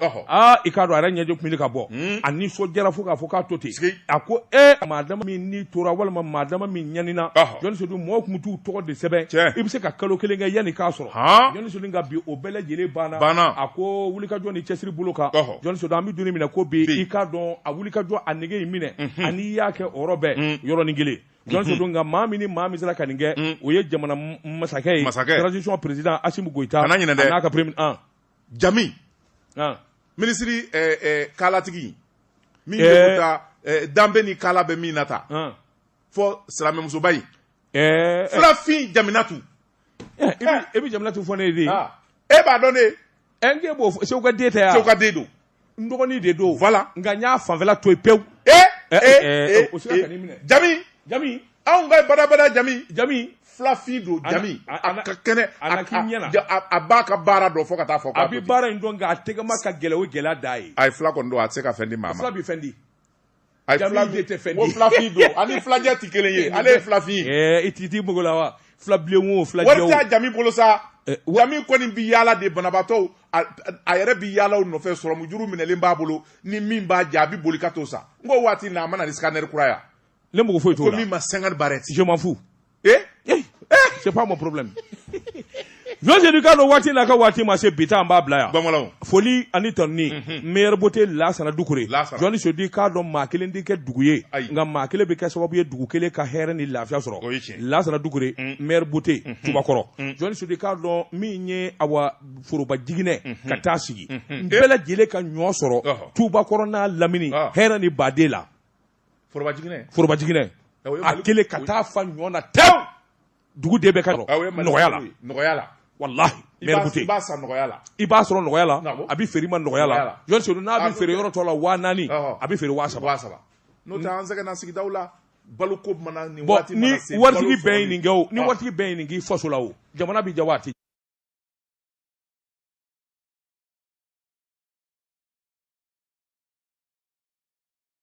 i k'a dɔn a yɛrɛ ɲɛji kun bɛ ka bɔ a nisɔndiyara fo k'a fɔ k'a to ten a ko e maa dama min ni tora walima maa dama min ɲanina journaliste sedu mɔgɔw tun bɛ t'u tɔgɔ de sɛbɛn i bɛ se ka kalo kelen kɛ yanni k'a sɔrɔ journaliste sedu nka bi o bɛɛ lajɛlen banna banna a ko wulikajɔ ni cɛsiri bolo kan journaliste sedu an bɛ don minɛ ko bi i k'a dɔn a wulikajɔ a nege in minɛ ani y'a kɛ o yɔrɔ bɛɛ yɔrɔnin kelen jɔn sedu nka maa min ni maa min sera ka nin kɛ o ye jamana masakɛ ye masakɛ transition président Assimi Goïta kana ɲinɛ dɛ n'a ka premier an Jami an minisiri ɛɛ ɛɛ kalatigi min bɛ taa ɛɛ danbe ni kala bɛ min na ta an fɔ silamɛmusoba in ɛɛ fulafin Jaminatu e bɛ Jaminatu fɔ ne ye de e b'a dɔn ne n k'e b'o fɔ seku ka den tɛ yan seku ka den don n dɔgɔnin de don voilà nka n y'a fanfɛla to yen pewu ee ee ee o sera ka nin minɛ jami jami anw ka badabada jami jami filafin don jami a ka kɛnɛ a k'i ɲɛ na a b'a ka baara dɔn fo ka taa fɔ a bɛ baara in dɔn nka a tɛgɛma ka gɛlɛn o gɛlɛya da ye a ye fila kɔni don a tɛ se ka fɛn di maa ma fila bɛ fɛn di A ye Jami de tɛ fɛn di. O filafin don ani filajɛ tɛ kelen ye ale ye filafin. Ɛɛ i tigi t'i mago la wa filabilen wo filajɛ Wari t'a Jami bolo sa. Eh, wa- Jami kɔni bɛ yaala de banabaatɔw a a yɛrɛ bɛ yaala u nɔfɛ sɔrɔmujuru minɛlen b'a bolo ni min b'a jɛ a bɛ boli ka t'o san k'o waati na a ma na ni scanner kura ye wa? ne mago foyi t'o ko la min ma sangari barɛti je m'en fous Eh? Eh? Eh? C'est pas mon problème. Jɔn Sedu i k'a dɔn waati n'a ka waati ma se bi ta an b'a bila yan. Bamananw. Foli ani tanuni. Mhm. Meilleur beauté Lasana Dukure. Lasana. Jɔn Sedu i k'a dɔn maa kelen tɛ kɛ dugu ye. Ayi. Nka maa kelen bɛ kɛ sababu ye dugu kelen ka hɛrɛ ni lafiya sɔrɔ. O ye tiɲɛ. Lasana Dukure. Mm. Meilleur beauté. Mhm. Tubakɔrɔ. Mm. Jɔn Sedu i k'a dɔn min ye awa foroba jiginɛ mhm. ka taa sigi. An bɛɛ lajɛlen ka ɲɔ sɔrɔ. Tubakɔrɔ n'a lamini ah. hɛrɛ ni baden la. forobajiginɛ a kelen ka taa fa ɲɔ na te dugu de bɛ ka nɔgɔya la nɔgɔya la wallahi meilleur beauté i b'a san nɔgɔya la i b'a sɔrɔ nɔgɔya la a bɛ feere i ma nɔgɔya la Jɔn Sedu n'a bɛ feere yɔrɔ tɔ la waa naani a bɛ feere waa saba saba n'o tɛ an sɛgɛnna sigidaw la balo ko ni waritigi bɛɛ ye nin kɛ ni waritigi bɛɛ ye nin k'i faso la o jamana bɛ diya waati